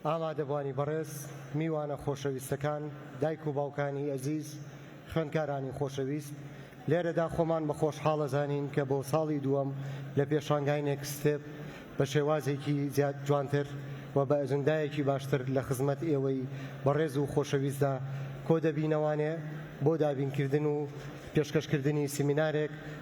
ئامادەبوانی بەڕێز، میوانە خۆشەویستەکان، دایک و باوکانی ئەزیز، خوێندکارانی خۆشەویست، لێرەدا خۆمان بە خۆشحاڵ ئەزانین کە بۆ ساڵی دووەم لە پێشانگای نێکست ستێپ بە شێوازێکی زیاد جوانتر و بە ئەجندایەکی باشتر لە خزمەت ئێوەی بەڕێز و خۆشەویستدا کۆدەبینەوانێ بۆ دابینکردن و پێشکەشکردنی سیمینارێک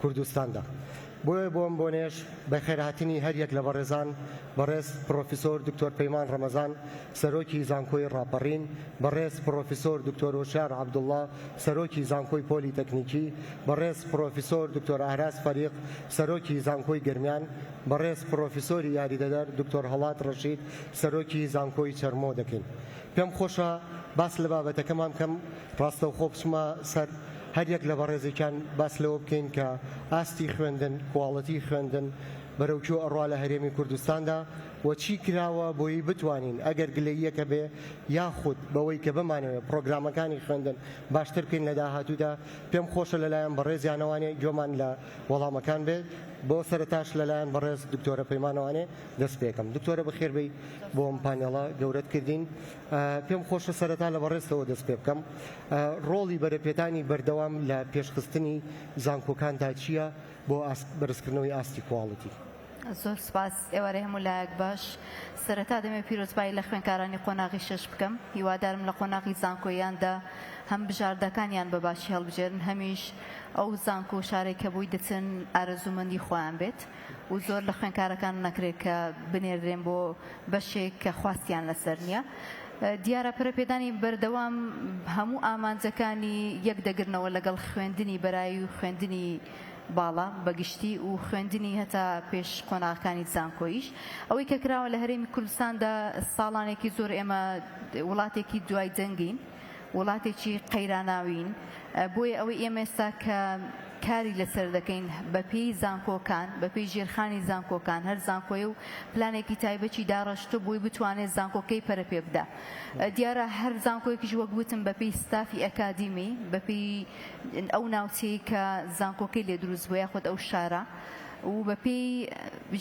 کوردستاندا. بۆیە بۆم بۆنێش بەخێرهاتنی هەر یەک لە بەڕێزان، بەڕێز پڕۆفیسۆر دکتۆر پەیمان ڕەمەزان سەرۆکی زانکۆی ڕاپەڕین، بەڕێز پڕۆفیسۆر دکتۆر هۆشیار عەبدوڵا سەرۆکی زانکۆی پۆلی تەکنیکی، بەڕێز پڕۆفیسۆر دکتۆر ئاراس فەریق سەرۆکی زانکۆی گەرمیان، بەڕێز پڕۆفیسۆری یاریدەدەر دکتۆر هەڵات ڕەشید سەرۆکی زانکۆی چەرمۆ دەکەین. پێم خۆشە باس لە بابەتەکەمان بکەم. ڕاستەوخۆ بچمە سەر هەر یەک لە بەڕێزێکیان باس لەوە بکەین کە ئاستی خوێندن، کواڵێتی خوێندن بەرەو کوێ ئەڕوا لە هەرێمی کوردستاندا و چی کراوە بۆیی بتوانین ئەگەر گلەییەک هەبێ یاخود بەوەی کە بمانەوێ پڕۆگرامەکانی خوێندن باشتر بکەین لە داهاتوودا پێم خۆشە لە لایەن بەڕێزیانەوانێ گوێمان لە وەڵامەکان بێت بۆ سەرەتاش لە لایەن بەڕێز دکتۆرە پەیمانەوانێ دەست پێکەم دکتۆرە بەخێربێی بۆ ئەم پانێڵە گەورەت کردین. پێم خۆشە سەرەتا لە بەڕێزتەوە دەست پێ بکەم. ڕۆڵی بەرەپێدانی بەردەوام لە پێشخستنی زانکۆکاندا چییە بۆ بەرزکردنەوەی ئاستی کواڵیتی؟ زۆر سوپاس. ئێوارەی هەموو لایەک باش. سەرەتا دەمەوێت پیرۆزبایی لە خوێندکارانی قۆناغی شەش بکەم. هیوادارم لە قۆناغی زانکۆییاندا هەم بژاردەکانیان بە باشی هەڵبژێرن، هەمیش ئەو زانکۆ و شارەی کە بۆی دەچن ئارەزوومەندی خۆیان بێت. و زۆر لە خوێنکارەکان نەکرێت کە بنێردرێن بۆ بەشێک کە خواستیان لەسەر نییە. دیارە پەرەپێدانی بەردەوام هەموو ئامانجەکانی یەک دەگرنەوە لەگەڵ خوێندنی بەرایی و خوێندنی باڵا بە گشتی و خوێندنی هەتا پێش قۆناغەکانی زانکۆییش. ئەوەی کە کراوە لە هەرێمی کوردستاندا ساڵانێکی زۆر ئێمە وڵاتێکی دوای جەنگین، وڵاتێکی قەیراناوین بۆیە ئەوەی ئێمە ئێستا کە کاری لەسەر دەکەین بە پێی زانکۆکان بە پێی ژێرخانی زانکۆکان هەر زانکۆیە و پلانێکی تایبەتی داڕشتە بووی بتوانێت زانکۆکەی پەرە پێ بدا دیارە هەر زانکۆیەکیش وەک وتم بە پێی ستافی ئەکادیمی بە پێی ئەو ناوچەیە کە زانکۆکەی لێ دروست بووە خۆت ئەو شارە و بە پێی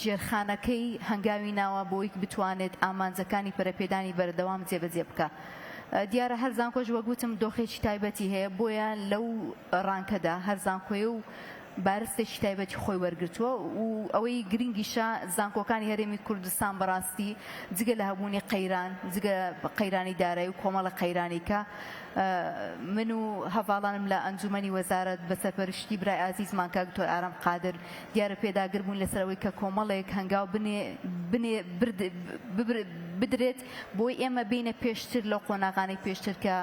ژێرخانەکەی هەنگاوی ناوە بۆیک بتوانێت ئامانجەکانی پەرەپێدانی بەردەوام جێبەجێ بکە دیارە هەر زانکۆش وەک وتم دۆخێکی تایبەتی هەیە بۆیە لەو ڕانکەدا هەر زانکۆیە و بارستێکی تایبەتی خۆی وەرگرتووە و ئەوەی گرنگیشە زانکۆکانی هەرێمی کوردستان بەڕاستی جگە لە هەبوونی قەیران جگە قەیرانی دارایی و کۆمەڵە قەیرانی کە من و هەڤاڵانم لە ئەنجومەنی وەزارەت بە سەرپەرشتی برای ئازیزمان کاک دکتۆر ئارام قادر دیارە پێداگر بوون لەسەر ئەوەی کە کۆمەڵێک هەنگاو بنێ بنێ برد ببرد بدرێت بۆی ئێمە بێینە پێشتر لەو قۆناغانەی پێشتر کە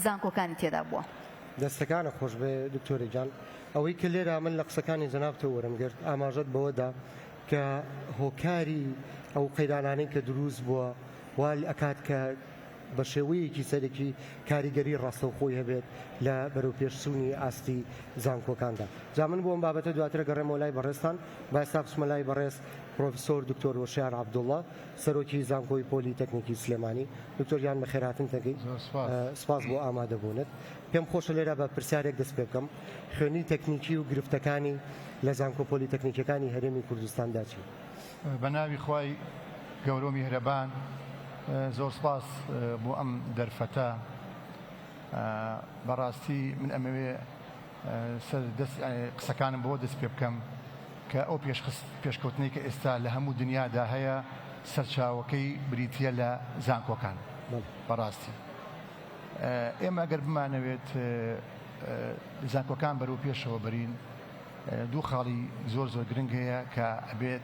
زانکۆکانی تێدا بووە. دەستەکانت خۆشبێ دکتۆرە گیان. ئەوەی کە لێرە من لە قسەکانی جەنابتەوە وەرم گرت ئاماژەت بەوەدا کە هۆکاری ئەو قەیرانانەی کە دروست بووە وا ئەکات کە بە شێوەیەکی سەرەکی کاریگەری ڕاستەوخۆی هەبێت لە بەرەوپێش چوونی ئاستی زانکۆکاندا. جا من بۆ ئەم بابەتە دواتر ئەگەڕێمەوە لای بەڕێزتان با ئێستا بچمە لای بەڕێز پڕۆفیسۆر دکتۆر وەشیار عەبدوڵڵا. سەرۆکی زانکۆی پۆلی تەکنیکی سلێمانی دکتۆر گیان بەخێرهاتن دەگەی سپاس بۆ ئامادە بونت پێم خۆشە لێرا بە پرسیارێک دەست پێ بکەم خوێنی تەکنیکی و گرفتەکانی لە زانکۆ پۆلی تەکنیکەکانی هەرێمی کوردستاندا چی بە ناوی خوای گەورە و میهرەبان زۆر سپاس بۆ ئەم دەرفەتە بەڕاستی من ئەمەوێ سەر دەست قسەکانم بەوە دەست پێ بکەم کە ئەو پێشخست پێشکەوتنەی کە ئێستا لە هەموو دنیادا هەیە سەرچاوەکەی بریتیە لە زانکۆکان بەڕاستی ئێمە گەر بمانەوێت زانکۆکان بەرەو پێشەوە بەرین دوو خاڵی زۆر زۆر گرنگ هەیە کە ئەبێت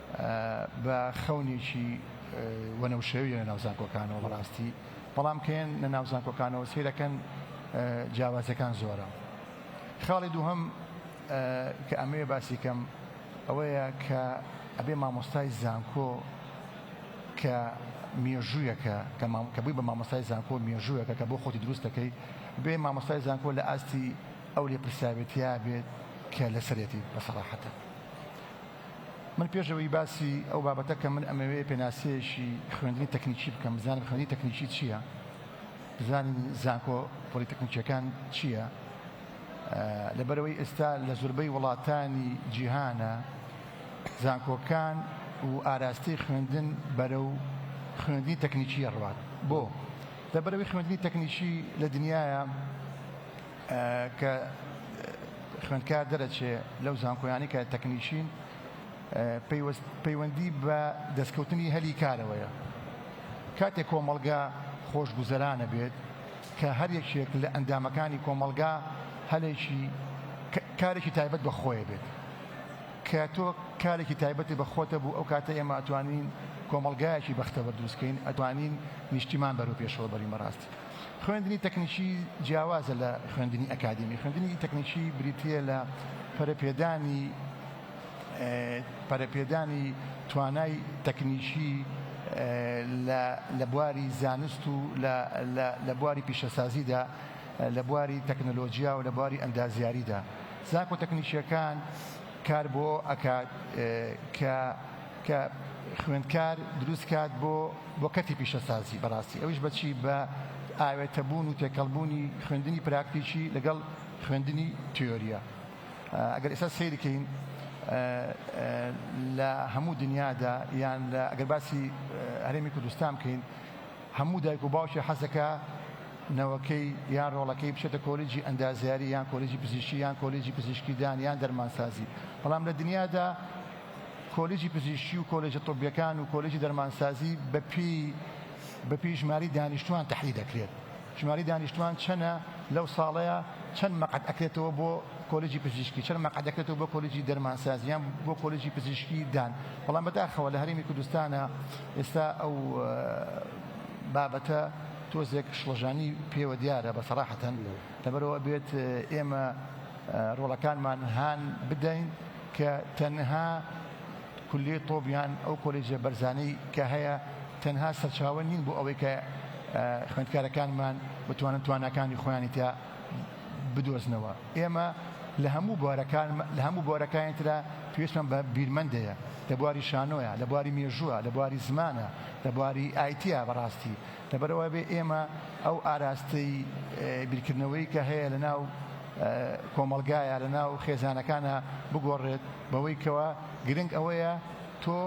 بە خەونێکی وەنەوشەوی لە ناو زانکۆکانەوە بەڕاستی بەڵام کەێن لە ناو زانکۆکانەوە سیرەکەن جیاوازەکان زۆرە خاڵی دووهم کە ئەمەیە باسی کەم ئەوەیە کە ئەبێ مامۆستای زانکۆ کە مێژوویەکە کە بووی بە مامۆستای زانکۆ مێژوویەکە کە بۆ خۆتی دروست دەکەی بێ مامۆستای زانکۆ لە ئاستی ئەو لێ پرسیاوێتیا بێت کە لەسەرێتی بەسەڕاحەتە من پێش ئەوەی باسی ئەو بابەتە کەم من ئەمەوێ پێناسەیەکی خوێندنی تەکنیکی بکەم بزانم خوێندنی تەکنیکی چییە بزانین زانکۆ پۆلیتەکنیکیەکان چییە لەبەرەوەی ئێستا لە زوربەی وڵاتانی جیهانە زانکۆکان و ئاراستەی خوێندن بەرە و خوێندنی تەکنیکی ڕوات بۆ لەبەرەوەی خوێندنی تەکنیکی لە دنیاە کە خوێندکار دەرەچێ لەو زانکۆیانەی کە تەکنیکین پەیوەندی بە دەستکەوتنی هەلی کارەوەیە کاتێک کۆمەڵگا خۆشگوزەرانە بێت کە هەر یەکێک لە ئەندامەکانی کۆمەڵگا هەلێکی کارێکی تایبەت بە خۆیە بێت کە تۆ کارێکی تایبەتی بە خۆتە بوو ئەو کاتە ئێمە ئەتوانین کۆمەلگایەکی بەختەوە دروستکەین ئەتوانین نیشتیمان بەرەو پێشەوە بەرین بەڕاست خوێندنی تەکنیکی جیاوازە لە خوێندنی ئەکادیمی، خوێندنی تەکنیکی بریتییە لە پەرەپێدانی پەرەپێدانی توانای تەکنیکی لە بواری زانست و لە بواری پیشەسازیدا، لە بواری تەکنەلۆجیا و لە بواری ئەندازیاریدا زانکۆ تەکنیکییەکان کار بۆ ئەوە ئەکات کە کە خوێندکار دروست کات بۆ بۆ کەرتی پیشەسازی بەڕاستی ئەویش بەچی بە ئاوێتە بوون و تێکەڵبوونی خوێندنی پراکتیکی لەگەڵ خوێندنی تیۆریە ئەگەر ئێستا سیرکەین لە هەموو دنیادا یان لە ئەگەر باسی هەرێمی کوردستان بکەین هەموو دایک و باوکی حەزەکە نەوەکەی یان ڕۆڵەکەی بچێتە کۆلیجی ئەندازیاری یان کۆلیجی پزیشکی یان کۆلیجی پزیشکیدان یان دەرمانسازی بەڵام لە دنیادا کۆلیجی پزیشکی و کۆلێجە طبیەکان و کۆلێجی دەرمانسازی بە پێی بە پێی ژماری دانیشتوان تەحدید دەکرێت ژماری دانیشتوان چەنە لەو ساڵەیە چەند مەقەت ئەکرێتەوە بۆ کۆلێجی پزیشکی چەند مەقەت دەکرێتەوە بۆ کۆلێجی دەرمانسازیان بۆ کۆلێجی پزیشکی دان بەڵام بەداخەوە لە هەرێمی کوردستانە ئێستا ئەو بابەتە تۆزێک شڵەژانی پێوە دیارە بە سەراحەتەن لەبەرەوە بێت ئێمە ڕۆڵەکانمان هان بدەین کە تەنها کولیەی طب یان ئەو کۆلێجە بەرزانەی کە هەیە تەنها سەرچاوە نین بۆ ئەوەی کە خوێندکارەکانمان بتوانن تواناکانی خۆیانی تیا بدۆزنەوە ئێمە لە هەموو بوارەکان لە هەموو بوارەکانی تررا پێویستمان بە بیرمەندەیە لە بواری شانۆیە لە بواری مێژووە لە بواری زمانە لە بواری ئایتیا بەڕاستی لەبەر ئەوەبێ ئێمە ئەو ئاراستەی بیرکردنەوەی کە هەیە لە ناو کۆمەڵگایە لە ناو خێزانەکانە بگۆڕێت بەوەی کەوا گرنگ ئەوەیە تۆ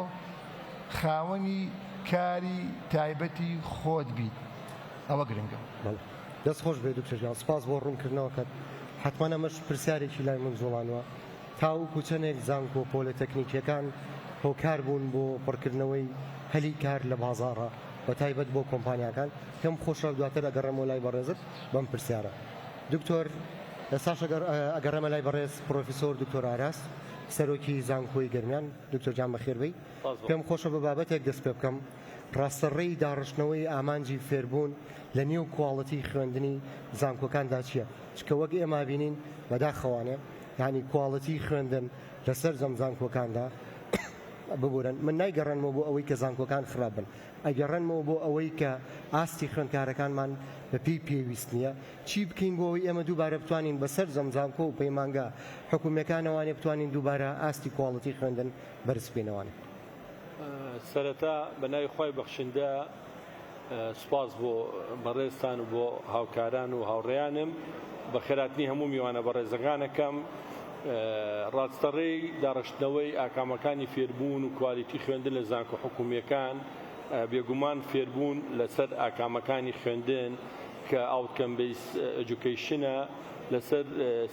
خاوەنی کاری تایبەتی خۆت بیت ئەوە گرنگە. دەست خۆش بێ دکتۆر گیان سپاس بۆ ڕوونکردنەوەکەت حەتمەن ئەمەش پرسیارێکی لای من جوڵانوە تاوەکو چەندێک زانکۆ پۆلە تەکنیکیەکان هۆکار بوون بۆ پڕکردنەوەی هەلی کار لە بازاڕە بە تایبەت بۆ کۆمپانیاکان پێم خۆشە دواتر ئەگەڕێمەوە لای بەڕێزت بەم پرسیارە دکتۆر ئێستاش ئەگەڕێمە لای بەڕێز پڕۆفیسۆر دکتۆر ئاراس سەرۆکی زانکۆی گەرمیان دکتۆر گیان بەخێربێی پێم خۆشە بە بابەتێک دەست پێ بکەم ڕاستە ڕێی داڕشتنەوەی ئامانجی فێربوون لە نێو کواڵەتی خوێندنی زانکۆکاندا چییە چکە وەک ئێمە بینین بەداخەوانێ یعنی کواڵەتی خوێندن لە سەرجەم زانکۆکاندا ببورن من نایگەڕێنمەوە بۆ ئەوەی کە زانکۆکان خراپ بن ئەگەڕێنمەوە بۆ ئەوەی کە ئاستی خوێندکارەکانمان بە پێی پێویست نییە چی بکەین بۆ ئەوەی ئێمە دووبارە بتوانین بە سەرجەم زانکۆ و پەیمانگا حکومیەکانەوانێ بتوانین دووبارە ئاستی کواڵیتی خوێندن بەرز بکەینەوانێ. سەرەتا بە ناوی خوای بەخشندە سوپاس بۆ بەڕێزتان و بۆ هاوکاران و هاوڕێیانم بە خێراتنی هەموو میوانە بەڕێزەکانەکەم ڕاستەڕێی داڕشتنەوەی ئاکامەکانی فێربوون و کوالیتی خوێندن لە زانکۆ حکومیەکان بێگومان فێربوون لەسەر ئاکامەکانی خوێندن کە ئاوتکەم بەیس ئەجوکەیشنە لەسەر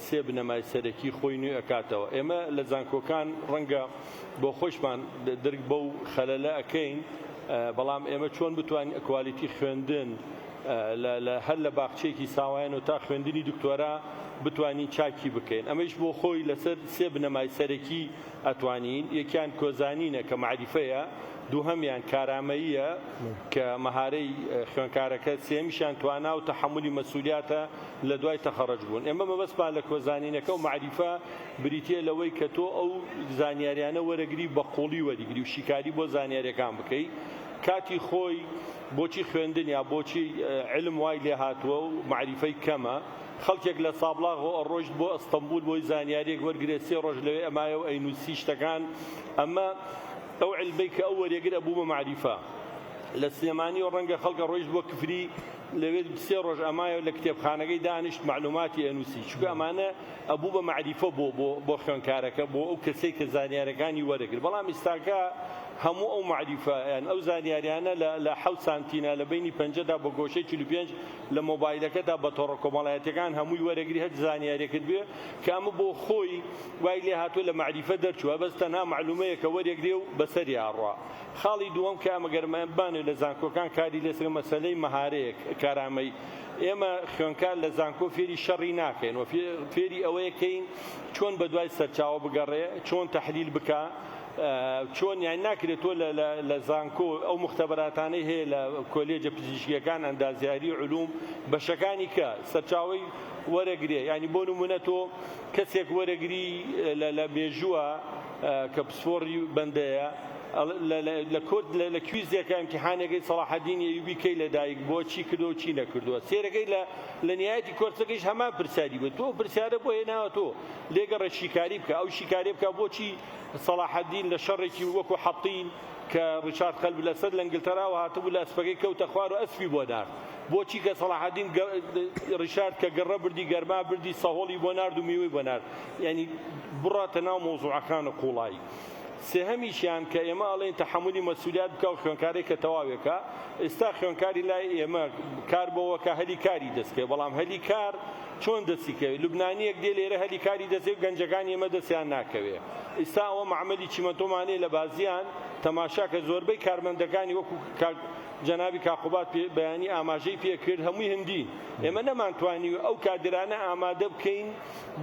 سێ بنەمای سەرەکی خۆی نوێ ئەکاتەوە ئێمە لە زانکۆکان ڕەنگە بۆ خۆیشمان درک بەو خەلەلە ئەکەین بەڵام ئێمە چۆن بتوانین کوالیتی خوێندن لە هەر لە باخچەیەکی ساوایان و تا خوێندنی دکتۆرا بتوانین چاکی بکەین ئەمەیش بۆ خۆی لەسەر سێ بنەمای سەرەکی ئەتوانین یەکیان کۆزانینە کە معریفەیە دووهەمیان کارامەییە کە مەهارەی خوێنکارەکە سێمیشیان توانا و تەحملی مەسولیاتە لە دوای تەخەڕج بوون ئێمە مەبەستمان لە کۆزانینەکە و معریفە بریتیە لەوەی کە تۆ ئەو زانیاریانە وەرەگری و بە قوڵی وەریگری و شیکاری بۆ زانیاریەکان بکەی کاتی خۆی بۆچی خوێندن یا بۆچی علم وای لێ هاتووە و مەعریفەی کەمە خەڵکێک لە سابڵاغۆ ئەڕۆشت بۆ ئەستەمبول بۆی زانیاریەک وەرگێ سێ ڕۆژ لەوێ ئەمایە و ئەینوسی شتەکان ئەمە ئەو علمەی کە ئەو وەرێگر ئەبوو بە مەعریفە لە سلێمانی و ڕەنگە خەڵک ئەڕۆیشت بۆ کفری لەوێ دوو سێ ڕۆژ ئەمایە و لە کتێبخانەکەی دانیشت مەعلووماتی ئەنووسی، چونکە ئەمانە ئەبوو بە مەعریفە بۆ بۆ بۆ خوێندکارەکە، بۆ ئەو کەسەی کە زانیارییەکانی وەرەگرت، بەڵام ئیستاکە هەموو ئەو مەعریفە یان ئەو زانیارییانە لە لە حەوت سانتینە لە بەینی پەنجەدا بە گۆشەی چل و پێنج لە مۆبایلەکەتدا بە تۆڕە کۆمەڵایەتییەکان هەمووی وەرەگری هەر زانیارییەکت بوێ کە ئەمە بۆ خۆی وای لێ هاتووە لە مەعریفە دەرچووە بەس تەنها مەعلوومەیەکە وەرێگرێ و بەسەریا ئەڕوا. خاڵی دووەم کە ئەگەرمان بمانەوێت لە زانکۆکان کاری لەسەر بکەین مەسەلەی مەهارەیە کارامەیی. ئێمە خوێندکار لە زانکۆ فێری شەڕی ناکەین و فێری ئەوەیەکەین چۆن بەدوای سەرچاوە بگەڕێ چۆن تەحلیل بکا چۆن یان ناکرێت تۆ لە زانکۆ ئەو مختبەراتانەی هەیە لە کۆلێجە پزیشکیەکان ئەندازیاری علوم بەشەکانی کە سەرچاوی وەرەگرێ ینی بۆ نمونە تۆ کەسێک وەرەگری لە مێژووە کە پسپۆڕی بەندەیە لە کورد لە کویزێکە ئیمتیحانێکەی سەڵاحەدین ئەیوبی کەی لەدایک بووە چی کردو چی نەکردووە سێرەکەی لە لە نهایەتی کۆرسەکەیش هەمان پرسیاری بوو تۆ پرسیارە بۆ هێناوە تۆ لێگەڕێ شیکاری بکە ئەو شیکاری بکە بۆچی سەڵاحەدین لە شەڕێکی وەکو حەتین کە ڕیچارد قەلب لەسەر لە ئنگلتەراوە هاتبوو لە ئەسپەکەی کەوتە خوار و ئەسپی بۆ نارد بۆچی کە سەڵاحەدین ڕیشارد کە گەڕە بردی گەرما بردی سەهۆڵی بۆ نارد و میوەی بۆ نارد یانی بڕاتە ناو مەوزوعەکانە قوڵایی. سێهەمیشیان کە ئێمە ئەڵێین تەحەمولی مەسئولیات بکا و خوێنکارێک کە تەواوێ کا، ئێستا خوێنکاری لای ئێمە کار بەوە کا هەلی کاری دەست کەوێ، بەڵام هەلی کار چۆن دەستی کەوێ؟ لوبنانییەک دێ لێرە هەلی کاری دەست کەوێ و گەنجەکانی ئێمە دەستیان ناکەوێ. ئیستا ئەوە مەعمەلی چیمەنتۆمانەیە لە بازیان، تەماشا کە زۆربەی کارمەندەکانی وەکوو کاک جەنابی کاک قوباد پێ بەیانی ئاماژەی پێ کرد هەمووی هندین. ئێمە نەمانتوانی ئەو کادرانە ئامادە بکەین.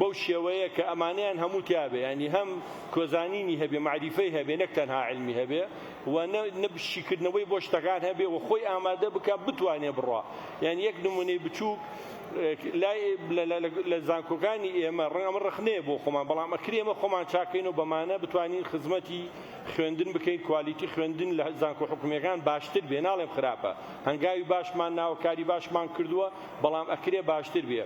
بەو شێوەیە کە ئەمانەیان هەموو تیا بێ یانی هەم کۆزانینی هەبێ مەعریفەی هەبێ نەک تەنها عیلمی هەبێ و نە نە شیکردنەوەی بۆ شتەکان هەبێ و خۆی ئامادە بکا بتوانێ بڕوا یان یەک نمونەی بچووک لای لە زانکۆکانی ئێمە ڕەنگە ئەمە ڕخنەیە بۆ خۆمان بەڵام ئەکرێ ئێمە خۆمان چاکەین و بەمانە بتوانین خزمەتی خوێندن بکەین کوالیتی خوێندن لە زانکۆ حکومیەکان باشتر بێ ناڵێم خراپە هەنگاوی باشمان ناوە کاری باشمان کردووە بەڵام ئەکرێ باشتر بێ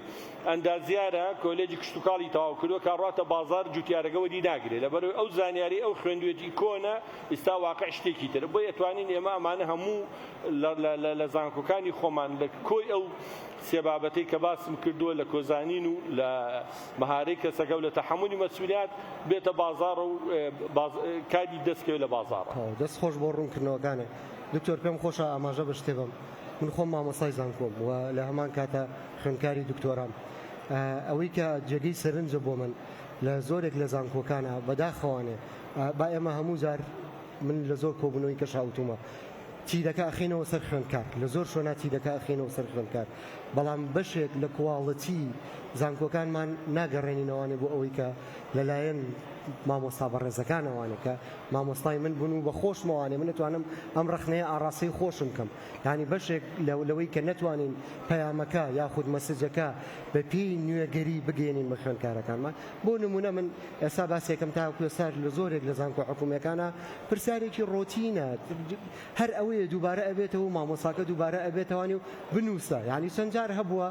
ئەندازیارە کۆلێجی کشتوکاڵی تەواو کردوە کە ئەڕواتە بازاڕ جوتیارەکە وەری ناگرێ لەبەرئەوەی ئەو زانیاریەی ئەو خوێندوێتی کۆنە ئیستا واقع شتێکی ترە بۆیە ئەتوانین ئێمە ئەمانە هەموو لە زانکۆکانی خۆمان لە کۆی ئەو سێ بابەتەی کە باسم کردوە لە کۆزانین و لە مەهارەی کەسەکە و لە تەحەمولی مەسولیات بێتە بازاڕە و باز... کاری دەستکەوێت لە بازاڕ دەست خۆش بۆ ڕوونکردنەوەکانت دکتۆر پێم خۆشە ئاماژە بە شتێ بەم من خۆم مامۆستای زانکۆم و لە هەمان کاتە خوێندکاری دکتۆرام ئەوەی کە جێگەی سەرنجە بۆ من لە زۆرێک لە زانکۆکانا بەداخەوانێ با ئێمە هەموو جار من لە زۆر کۆبونەوەی کەشا وتومە تیرەکە ئەخینەوە سەر خوێندکار لە زۆر شوێنا تیرەکە ئەخینەوە سەر خوێندکار بەڵام بەشێک لە کواڵەتی زانکۆکانمان ناگەڕێنینەوانێ بۆ ئەوەی کە لەلایەن مامۆستا بەڕێزەکانەوانێکە مامۆستای من بوون و بە خۆشمەوانێ من نتوانم ئەم ڕخنەیە ئاڕاستەی خۆشم کەم یانی بەشێک لەوەی کە نەتوانین پەیامەکە یاخود مەسجەکە بە پێی نوێگەری بگەیەنین بە خوێندکارەکانمان بۆ نمونە من ئێستا باسێکم تاکو ئێستاش لە زۆرێک لە زانکۆ حکومیەکانە پرسیارێکی ڕۆتینە هەر ئەوەیە دووبارە ئەبێتەوە مامۆساکە دووبارە ئەبێتوانی و بنووسە یعنی چەند جار هەبووە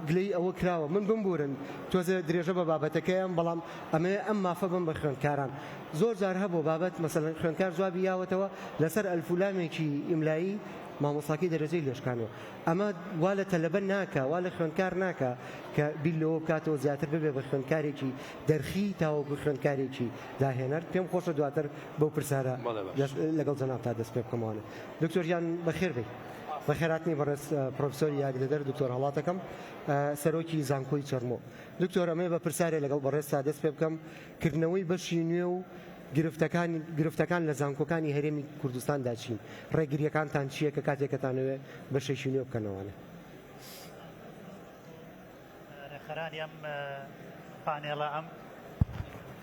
گلەی ئەوە کراوە من بمبورن تۆزێ درێژە بە بابەتەکەیان بەڵام ئەمەوێ ئەم مافە بم بە خوێندکاران. زۆر جار هەبووە بابەت مەسەلەن خوێندکار جوابی یاوەتەوە لەسەر ئەلف و لامێکی ئیملایی مامۆستاکەی دەرەجەی لێ شکاندووە. ئەمە وا لە تەلەبە ناکا وا لە خوێندکار ناکا کە بیر لەوە بکاتەوە زیاتر ببێ بە خوێندکارێکی دەرخی تاوەکو خوێندکارێکی داهێنەر. پێم خۆشە دواتر بەو پرسارە لەگەڵ جەنابتا دەست پێ بکەمەوانە. دکتۆر گیان بە خێر بێی. بەخێرهاتنی بەڕێز پرۆفیسۆری یاگدەدەر دکتۆر هەڵاتەکەم سەرۆکی زانکۆی چەرمۆ. دکتۆر ئەمەێ بە پرسیارێ لەگەڵ بەڕێزتا دەست پێ بکەم، کردنەوەی بەشی نوێ و گرفتەکان گرفتەکان لە زانکۆکانی هەرێمی کوردستان دا چین؟ ڕێگریەکانتان چیە کە کاتێک ئەتانەوێ بەشێکی نوێ بکەنەوەە؟ ڕێکخەرانی ئەم پانێڵە ئەم.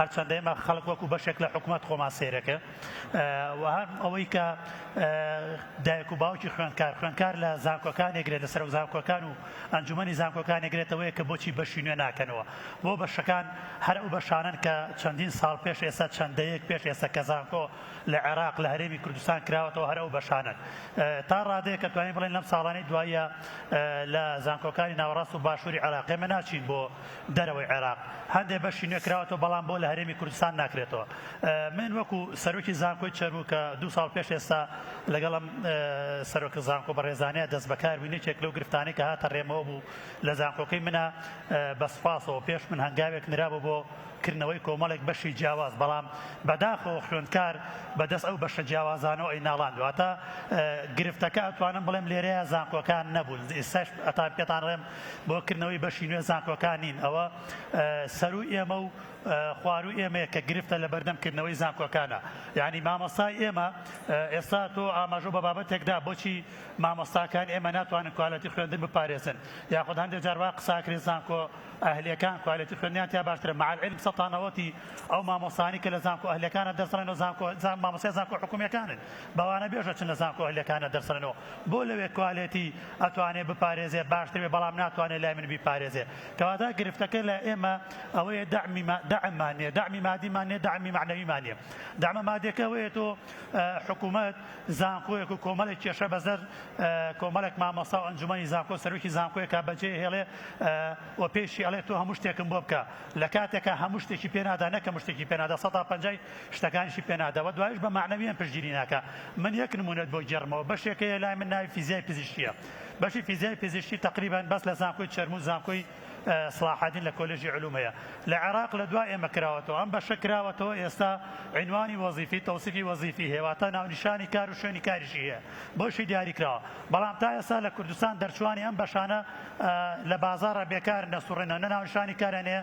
هەرچەندە ئێمە خەڵک وەکو بەشێک لە حکومەت خۆمان سەیرەکە و هەر ئەوەی کە دایک و باوکی خوێندکار خوێندکار لە زانکۆکانێگرێت لە سەرۆک زانکۆکان و ئەنجومی زانکۆکانێگرێتەوەی کە بۆچی بەشی نوێ ناکەنەوە بۆ بەشەکان هەر ئەو بەشانن کە چەندین ساڵ پێش ئێستا چەندەیەک پێش ئێستا کە زانکۆ لە عێراق لە هەرێمی کوردستان کراوەەوە هەر ئەو بەشانن تا ڕادەیە کە توانین بڵێن لەم ساڵانی دوایە لە زانکۆکانی ناوەڕاست و باشووری عراقێمە ناچین بۆ دەرەوەی عێراق هەندێ بەشی نوێ کراوەتەوە بەڵام بۆ لە هەرێمی کوردستان ناکرێتەوە من وەکو سەرۆکی زانکۆی چەرموو کە دوو ساڵ پێش ئێستا لەگەڵ ئەم سەرۆکە زانکۆ بەڕێزانەیە دەست بەکار بووین یەکێک لەو گرفتانەی کە هاتە ڕێمەوە بوو لە زانکۆکەی منە بە سوپاسەوە پێش من هەنگاوێک نرابوو بۆ کردنەوەی کۆمەڵێک بەشی جیاواز بەڵام بەداخەوە خوێندکار بەدەست ئەو بەشە جیاوازانەوە ئەی ناڵان دواتە گرفتەکە ئەتوانم بڵێم لێرەیە زانکۆکان نەبوون ئێستاش ئەتان پێتان ڕێم بۆ کردنەوەی بەشی نوێ زانکۆکان نین ئەوە سەروو ئێمە و خواروو ئێمەیە کە گرفتە لە بەردەم کردنەوەی زانکۆکانە یانی مامۆستای ئێمە ئێستا تۆ ئاماژۆ بە بابەتێکدا بۆچی مامۆستاکان ئێمە ناتوانن کوالەتی خوێندن بپارێزن یاخود هەندێک جاروا قساکرێ زانکۆ ئەهلەکان کوالەتی خوێندنیان تیا باشترە مع العلم سەتانەوەتی ئەو مامۆستانی کە لە زانکۆ ئەهلەکانە دەسڕێنەوە زانکۆ زان مامۆستای زانکۆ حکومیەکانن بەوانە بێژە چن لە زانکۆ هەلیەکانە دەرسەنن و بۆ لەوێ کوالێتی ئەتوانێ بپارێزێ باشتر بێ بەڵام ناتوانێ لای من بیپارێزێ کەواتە گرفتەکە لای ئێمە ئەوەیە دەعمی ما دەعممان نیە دەعمی مادیمان نیە دەعمی مەعنەویمان نیە دەعمە مادیەکە ئەوەیە تۆ حکوومەت زانکۆیەک و کۆمەڵێک کێشە بەزەر کۆمەڵێک مامۆستا و ئەنجومەنی زانکۆ سەرۆکی زانکۆیەکە بەجێ هێڵێ و پێشی ئەڵێ تۆ هەموو شتێکم بۆ بکە لە کاتێکە هەموو شتێکی پێنادا نەکە مشتێکی پێنادا سەدا پەنجای شتەکانیشی پێ نادەوە دوایش بە مەعنەویان پشتگیری ناکا من یەک نمونەت بۆ گێڕمەوە بەشێک هەیە لای من ناوی فیزیای پزیشکیە بەشی فیزیای پزیشکی تەقریبەن بەس لە زانکۆی چەرموو زانکۆی سڵاحەدین لە کۆلێژی علوم هەیە لە عێراق لە دوا ئێمە کراوەتەوە ئەم بەشە کراوەتەوە ئێستا عینوانی وەزیفی تەوسیفی وەزیفی هێواتە ناونیشانی کار و شوێنی کاریشی هەیە بۆشی دیاری کراوە بەڵام تا ئێستا لە کوردستان دەرچوانی ئەم بەشانە لە بازارە بێکار نەسوڕێنە نە ناونشانی کارانەیە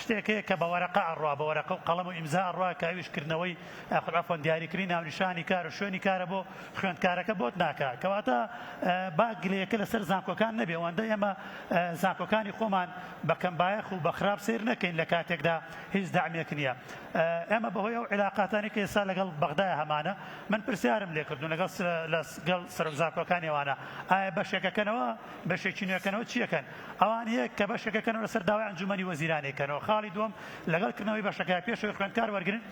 شتێک هەیە کە بە وەرەقە ئەڕوا بە وەرەقە و قەڵەم و ئیمزا ئەڕوا کە ئەویش کردنەوەی ئەخر عەفوەن دیاریکردنی ناونیشانی کار و شوێنی کارە بۆ خوێندکارەکە بۆت ناکا کەواتە با گلەیەکە لەسەر زانکۆکان نەبێ ئەوەندە ئێمە زانکۆکانی خۆمان بە کەمبایەخ و بە خراپ سەیر نەکەین لە کاتێکدا هیچ دەعمێک نییە ئێمە بەهۆی ئەو عیلاقاتانی کە ئێستا لەگەڵ بەغدایە هەمانە من پرسیارم لێ کردوون لەگەڵ لەگەڵ سەرۆک زانکۆکانی ئەوانە ئایا بەشێکەکەنەوە بەشێکی نوێکەنەوە چییەکەن ئەوان یەک کە بەشێکەکەنەوە لەسەر داوای ئەنجوومەنی وەزیرانی کەنەوە خاڵی دووەم لەگەڵ کردنەوەی بەشەکە پێش ئەوەی خوێندکار وەرگرن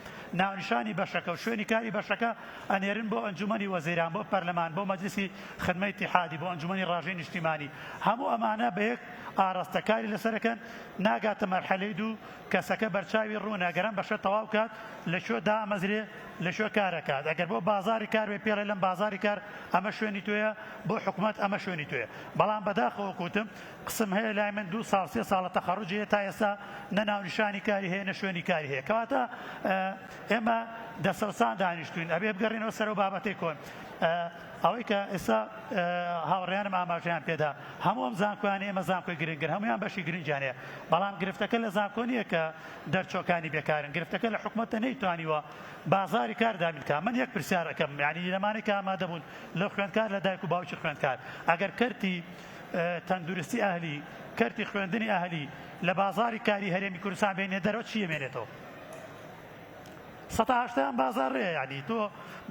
ناونیشانی بەشەکە و شوێنی کاری بەشەکە ئەنێرن بۆ ئەنجوومەنی وەزیران بۆ پەرلەمان بۆ مەجلیسی خدمەی ئیتیحادی بۆ ئەنجوومەنی ڕاژەی نیشتیمانی هەموو ئەمانە بە یەک ئاڕاستە کاری لەسەر دەکەن ناگاتە مەرحەلەی دوو کەسەکە بەرچاوی ڕوونە گەر ئەم بەشە تەواو بکات لە کوێ دامەزرێ لە کوێ کار ئەکات ئەگەر بۆ بازاڕی کار بێ پێڵێ لەم بازاڕی کار ئەمە شوێنی تۆیە بۆ حکومەت ئەمە شوێنی تۆیە بەڵام بەداخەوە کوتم قسم هەیە لای من دوو ساڵ سێ ساڵە تەخەڕوجی هەیە تا ئێستا نە ناونیشانی کاری هەیە نە شوێنی کاری هەیە کەواتە ئێمە دەسەڵسان دانیشتوین ئەبێ بگەڕێنەوە سەرەوە بابەتی کۆن ئەوەی کە ئێستا هاوڕیانم ئاماژیان پێدا هەموو ئەم زانکۆیان ئێمە زانکۆی گرنگن هەمویان بەشی گرنجانەیە بەڵام گرفتەکە لە زانکۆ نییە کە دەرچۆکانی بێکارن گرفتەکە لە حکوومەتە نەیتوانیوە بازاری کار دابینکە من یەک پرسیارەکەم یعنی لەمانێک ئامادەبوون لە خوێندکار لە دایک و باوکی خوێندکار ئەگەر کەرتی تەندورستی ئەهلی کەرتی خوێندنی ئەهلی لە بازاری کاری هەرێمی کوردستان بێنێ دەرەوە چی ئەمێنێتەوە سەتا هەشتایان بازار رێ یعنی تۆ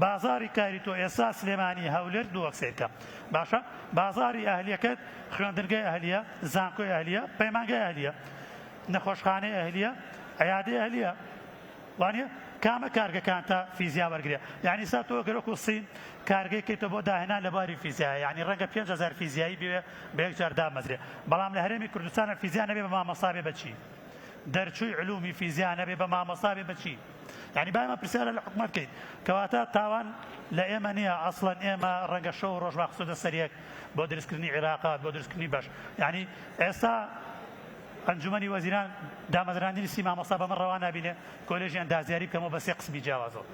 بازاری کاری تۆ ئێستا سلێمانی هەولێر دووەک سیرکە باشە بازاری ئەهلیەکەت خوێندنگای ئەهلیە زانکۆی ئەهلیە پەیمانگای ئەهلیە نەخۆشخانەی ئەهلیە عیادەی ئەهلیە وانیە کامە کارگەکان تا فیزیا وەرگرێ یانی ئیستا تۆ گەر وەکو سین کارگەی کەیتە بۆ داهێنان لە بواری فیزیایا یانی رەنگە پێنج هەزار فیزیایی بوێ بە یەک جار دامەزرێ بەڵام لە هەرێمی کوردستانە فیزیا نەبێ بە مامۆستا بێ بەچی دەرچووی علومی فیزیا نەبێ بە مامۆستا بێ بەچی یعنی با ئێمە پرسیارە لە حکومەت کەین کەواتە تاوان لە ئێمە نییە ئەسڵەن ئێمە ڕەنگە شەو و ڕۆژ واخسۆدە سەریەک بۆ دروستکردنی عێراقات بۆ دروستکردنی بەش یعنی ئێستا ئەنجومەنی وەزیران دامەزراندنی سی مامۆستا بەمە ڕەوا نابینێ کۆلێژی ئەندازیاری بکەمەوە بە سێ قسمی جیاوازەوە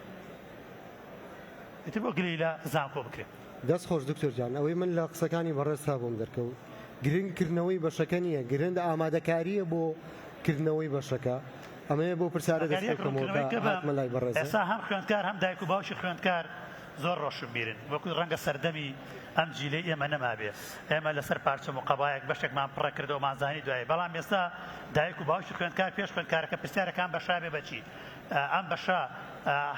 ئیتر بۆ گلەیی لە زانکۆ بکرێ. دەست خۆش دکتۆر گیان ئەوەی من لە قسەکانی بەڕێزتا بۆم دەرکەوت گرنگ کردنەوەی بەشەکە نیە گرنگ ئامادەکاریە بۆ کردنەوەی بەشەکە ئەمەوێ بۆ پرسیارە دەست پێ بکەمەوە کە هاتمە لای بەڕێزت. ئێستا هەم خوێندکار هەم دایک و باوکی خوێندکار زۆر ڕۆشنبیرن وەکووی ڕەنگە سەردەمی ئەم جیلەی ئێمە نەمابێ ئێمە لەسەر پارچەم و قەبایەک بەشێکمان پڕە کردەوە مانزانی دوایی بەڵام ئێستا دایک و باوکی خوێندکار پێش خوێندکارەکە پرسیارە کام بەشا بێ بەچی ئەم بەشە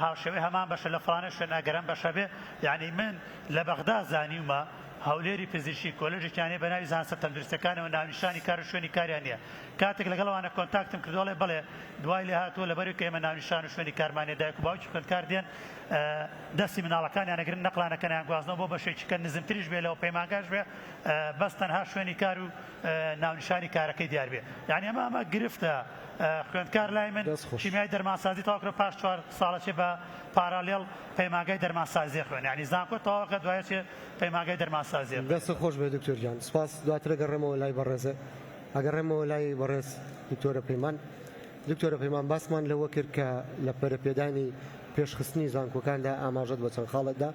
هاوشێوەی هەمان بەشە لە فلانە شوێن ئەگەرم بەشە بێ یعنی من لە بەغدا زانیومە هەولێری پزیشکی کۆلژێکیانێ بە ناوی زانسە تەندروستەکانەوە ناونیشانی کار و شوێنی کاریان نیە کاتێک لەگەڵوانە کۆنتاکتم کردوڵێ بڵێ دوای لێ هاتووە لەبەرو کە ئێمە ناونیشان و شوێنی کارمانێ دایک و باوکی خوێندکار دێن دەستی مناڵەکانیان ئەگرن نەقلانەکەن ئەیانگوازنەوە بۆ بەشێکی کە نزمتریش بێ لەو پەیمانگاش بێ بەس تەنها شوێنی کار و ناونیشانی کارەکەی دیار بێ یعنی ئەمە ئەمە گرفتە خوێندکار لای من دەست خۆش. کیمیای دەرمانسازی تەواو کرد پاش چوار ساڵە چێ بە پارالێڵ پەیمانگای دەرمانسازی خوێنێ یعنی زانکۆ تەواو کە دوای چێ پەیمانگای دەرمانسازی خوێنێ. دەستت خۆش بێت دکتۆر گیان سپاس دواتر ئەگەڕێمەوە لای بەڕێزت ئەگەڕێمەوە لای بەڕێز دکتۆرە پەیمان. دکتۆرە پەیمان باسمان لەوە کرد کە لە پەرەپێدانی پێشخستنی زانکۆکاندا ئاماژەت بە چەند خاڵێک دا،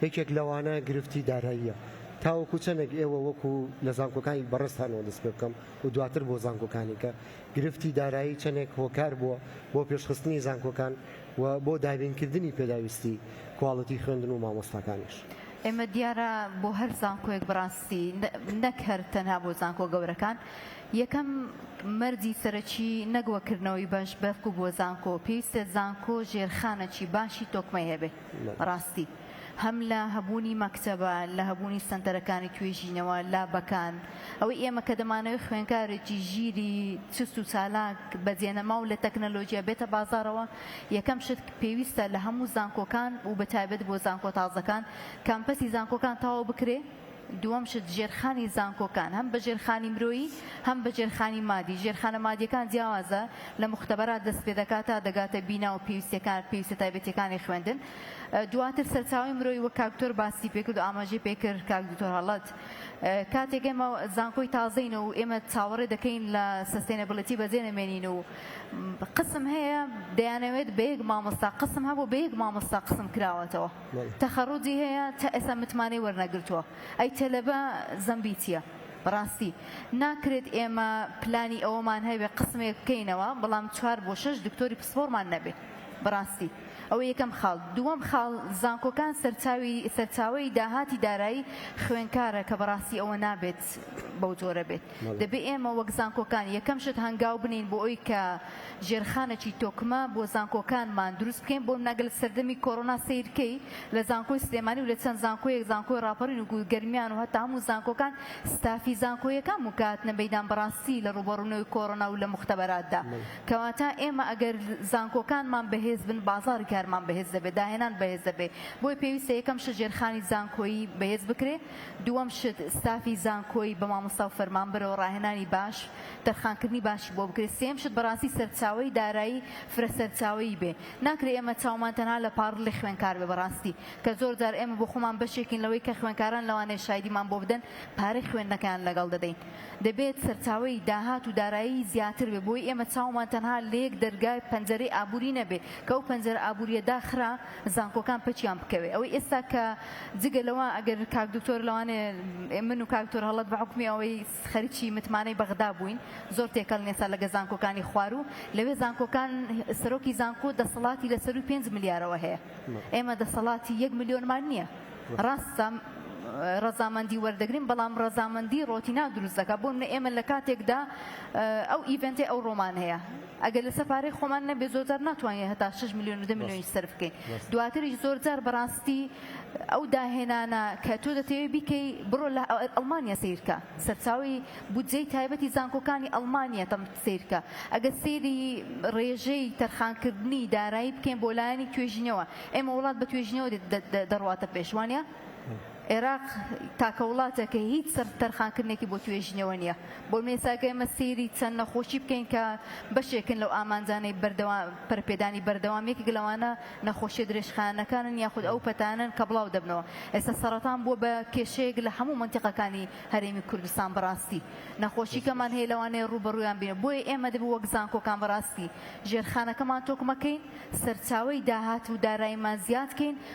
یەکێک لەوانە گرفتی داراییە، تاوەکو چەندێک ئێوە وەکو لە زانکۆکانی بەڕێزتانەوە دەست پێ بکەم و دواتر بۆ زانکۆکانی کە گرفتی دارایی چەندێک هۆکار بووە بۆ پێشخستنی زانکۆکان و بۆ دابینکردنی پێداویستی کواڵیتی خوێندن و مامۆستاکانیش؟ ئێمە دیارە بۆ هەر زانکۆیەک بەڕاستی نەک هەر تەنها بۆ زانکۆ گەورەکان، یەکەم مەرجی سەرەکی نەک وەک کردنەوەی بەش بەفک و بۆ زانکۆ پێویستە زانکۆ ژێرخانەکی باشی تۆکمەی هەبێ ڕاستی هەم لە هەبوونی مەکتەبە لە هەبوونی سەنتەرەکانی توێژینەوە لابەکان ئەوەی ئێمە کە دەمانەوێ خوێنکارێکی ژیری چوست و چالاک بە جێنەماو لە تەکنەلۆجیا بێتە بازاڕەوە یەکەم شت پێویستە لە هەموو زانکۆکان و بە تایبەت بۆ زانکۆ تازەکان کامپەسی زانکۆکان تەواو بکرێ دووەم شت، ژێرخانی زانکۆکان، هەم بە ژێرخانی مرۆیی، هەم بە ژێرخانی مادی، ژێرخانە مادییەکان جیاوازە لە موختەبەرات، دەست پێ دەکات تا دەگاتە بینا و پێویستییەکان، پێویستە تایبەتییەکانی خوێندن. دواتر سەرچاوەی مرۆیی، وەک کاک دکتۆر باسی پێ کرد و ئاماژەی پێ کرد کاک دکتۆر هەڵەد، کاتێک ئێمە زانکۆی تازەین و ئێمە چاوەڕێ دەکەین لە سەستەینەبڵیتی بەجێ نەمێنین و قسم هەیە دەیانەوێت بە یەک مامۆستا قسم هەبوو، بە یەک مامۆستا قسم کراوەتەوە. تەخەڕوجی هەیە تا ئێستا متمانەی وەرنەگرتووە ئەی تەلەبە زەمبی چیە بەڕاستی ناکرێت ئێمە پلانی ئەوەمان هەبێ قسمێک بکەینەوە بەڵام چوار بۆ شەش دکتۆری پسپۆڕمان نەبێ بەڕاستی ئەوە یەکەم خاڵ دووەم خاڵ زانکۆکان سەرچاوی سەرچاوەی داهاتی دارایی خوێنکارە کە بەڕاستی ئەوە نابێت بەو جۆرە بێت دەبێت ئێمە وەک زانکۆکان یەکەم شت هەنگاو بنین بۆ ئەوی کە ژێرخانەکی تۆکمە بۆ زانکۆکانمان دروست بکەین بۆ نەگەل سەردەمی کۆرۆنا سیرکەی لە زانکۆی سلێمانی و لە چەند زانکۆیەک زانکۆی ڕاپەڕین و گەرمیان و هەتا هەموو زانکۆکان ستافی زانکۆیەکان مکاتنە مەدان بەڕاستی لە ڕوبەڕونەوەی کۆرۆنا و لە مختبەراتدا کەواتە ئێمە ئەگەر زانکۆکانمان بەهێز بن بازاری کارمان بەهێز دەبێت داهێنان بەهێز دەبێت بۆی پێویستە یەکەم شت ژێرخانی زانکۆیی بەهێز بکرێت دووەم شت ستافی زانکۆی بە مامۆستا و فەرمانبەرەوە ڕاهێنانی باش تەرخانکردنی باشی بۆ بکرێت سێیەم شت بەڕاستی سەرچاوەی دارایی فرە سەرچاوەیی بێ ناکرێ ئێمە چاومان تەنها لە پاڕڵی خوێنکار بێ بەڕاستی کە زۆر جار ئێمە بۆ خۆمان بەشێکین لەوەی کە خوێنکاران لەوانەیە شایدیمان بۆ بدەن پارەی خوێندنەکەیان لەگەڵ دەدەین دەبێت سەرچاوەی داهات و دارایی زیاتر بێ بۆی ئێمە چاومان تەنها لە یەک دەرگای پەنجەرەی ئابووری نەبێ کە ئەو پەنجەرە ئابووریە داخرا زانکۆکان پەکیان بکەوێ ئەوەی ئێستا کە جگە لەوە ئەگەر کاک دکتۆر لەوانێ من و کاک دکتۆر هەڵەت بە حوکمی ئەوەی خەرکی متمانەی بەغدا بووین زۆر تێکەڵ نین ئێستا لەگە زانکۆکانی خوار و لەوێ زانکۆکان سەرۆکی زانکۆ دەسەڵاتی لە سەرووی پێنج ملیارەوە هەیە ئێمە دەسەڵاتی یەک ملیۆنمان نییە ڕاستە ڕەزامەندی وەردەگرین بەڵام ڕەزامەندی ڕۆتینا دروست دەکات بۆ منە ئێمە لە کاتێکدا ئەو ئیڤنتی ئەو ڕۆمان هەیە ئەگەر لەسەر پارەی خۆمان نەبێت زۆرجار ناتوانین هەتا شەش ملیۆن و دە ملیۆنیش سەرف بکەین دواتریش زۆرجار بەڕاستی ئەو داهێنانە کە تۆ دەتەوێت بیکەی بڕۆ لە ئەڵمانیا سیرکە سەرچاوی بودجەی تایبەتی زانکۆکانی ئەڵمانیا تەم سیرکە ئەگەر سێری ڕێژەی تەرخانکردنی دارایی بکەین بۆ لایەنی توێژینەوە ئێمە وڵات بە توێژینەوە دەڕواتە پێش وانە؟ عێراق تاکە وڵاتە کە هیچ سەرف تەرخانکردنێکی بۆ توێژینەوە نییە. بۆ نموونە ئەگەر ئێمە سەیری چەند نەخۆشی بکەین کە بەشێکن لەو ئامانجانەی بەردەوام پەرەپێدانی بەردەوام یەکێک لەوانە نەخۆشیە درێژخایەنەکانن یاخود ئەو پەتانەن کە بڵاو دەبنەوە. ئێستا سەڕەتان بووە بە کێشەیەک لە هەموو مەنتیقەکانی هەرێمی کوردستان بەڕاستی نەخۆشیکەمان هەیە لەوانەیە ڕووبەڕوویان بین بۆیە ئێمە دەبێت وەک زانکۆکان بەڕاستی ژێرخانەکەمان تۆکمەکەین سەرچاوەی داهات و دارایمان زیاد کەین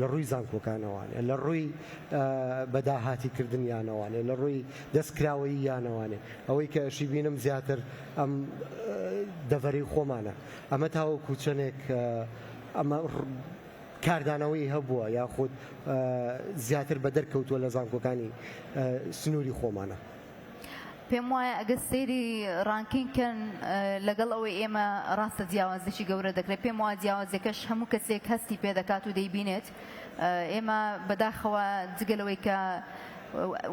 لە ڕووی زانکۆکانەوانێ، لە ڕووی بە داهاتی کردنیانەوانێ، لە ڕووی دەست کراوەییانەوانێ، ئەوەی کە ئەشی بینم زیاتر ئەم دەڤەرەی خۆمانە، ئەمە تاوەکو چەنێک ئەمە کاردانەوەی هەبووە یاخود زیاتر بە دەرکەوتووە لە زانکۆکانی سنووری خۆمانە. پێم وایە ئەگەر سەیری ڕانکینگ کەن لەگەڵ ئەوەی ئێمە ڕاستە جیاوازێکی گەورە دەکرێت پێم وایە جیاوازەکەش هەموو کەسێک هەستی پێ دەکات و دەیبینێت ئێمە بەداخەوە جگە لەوەی کە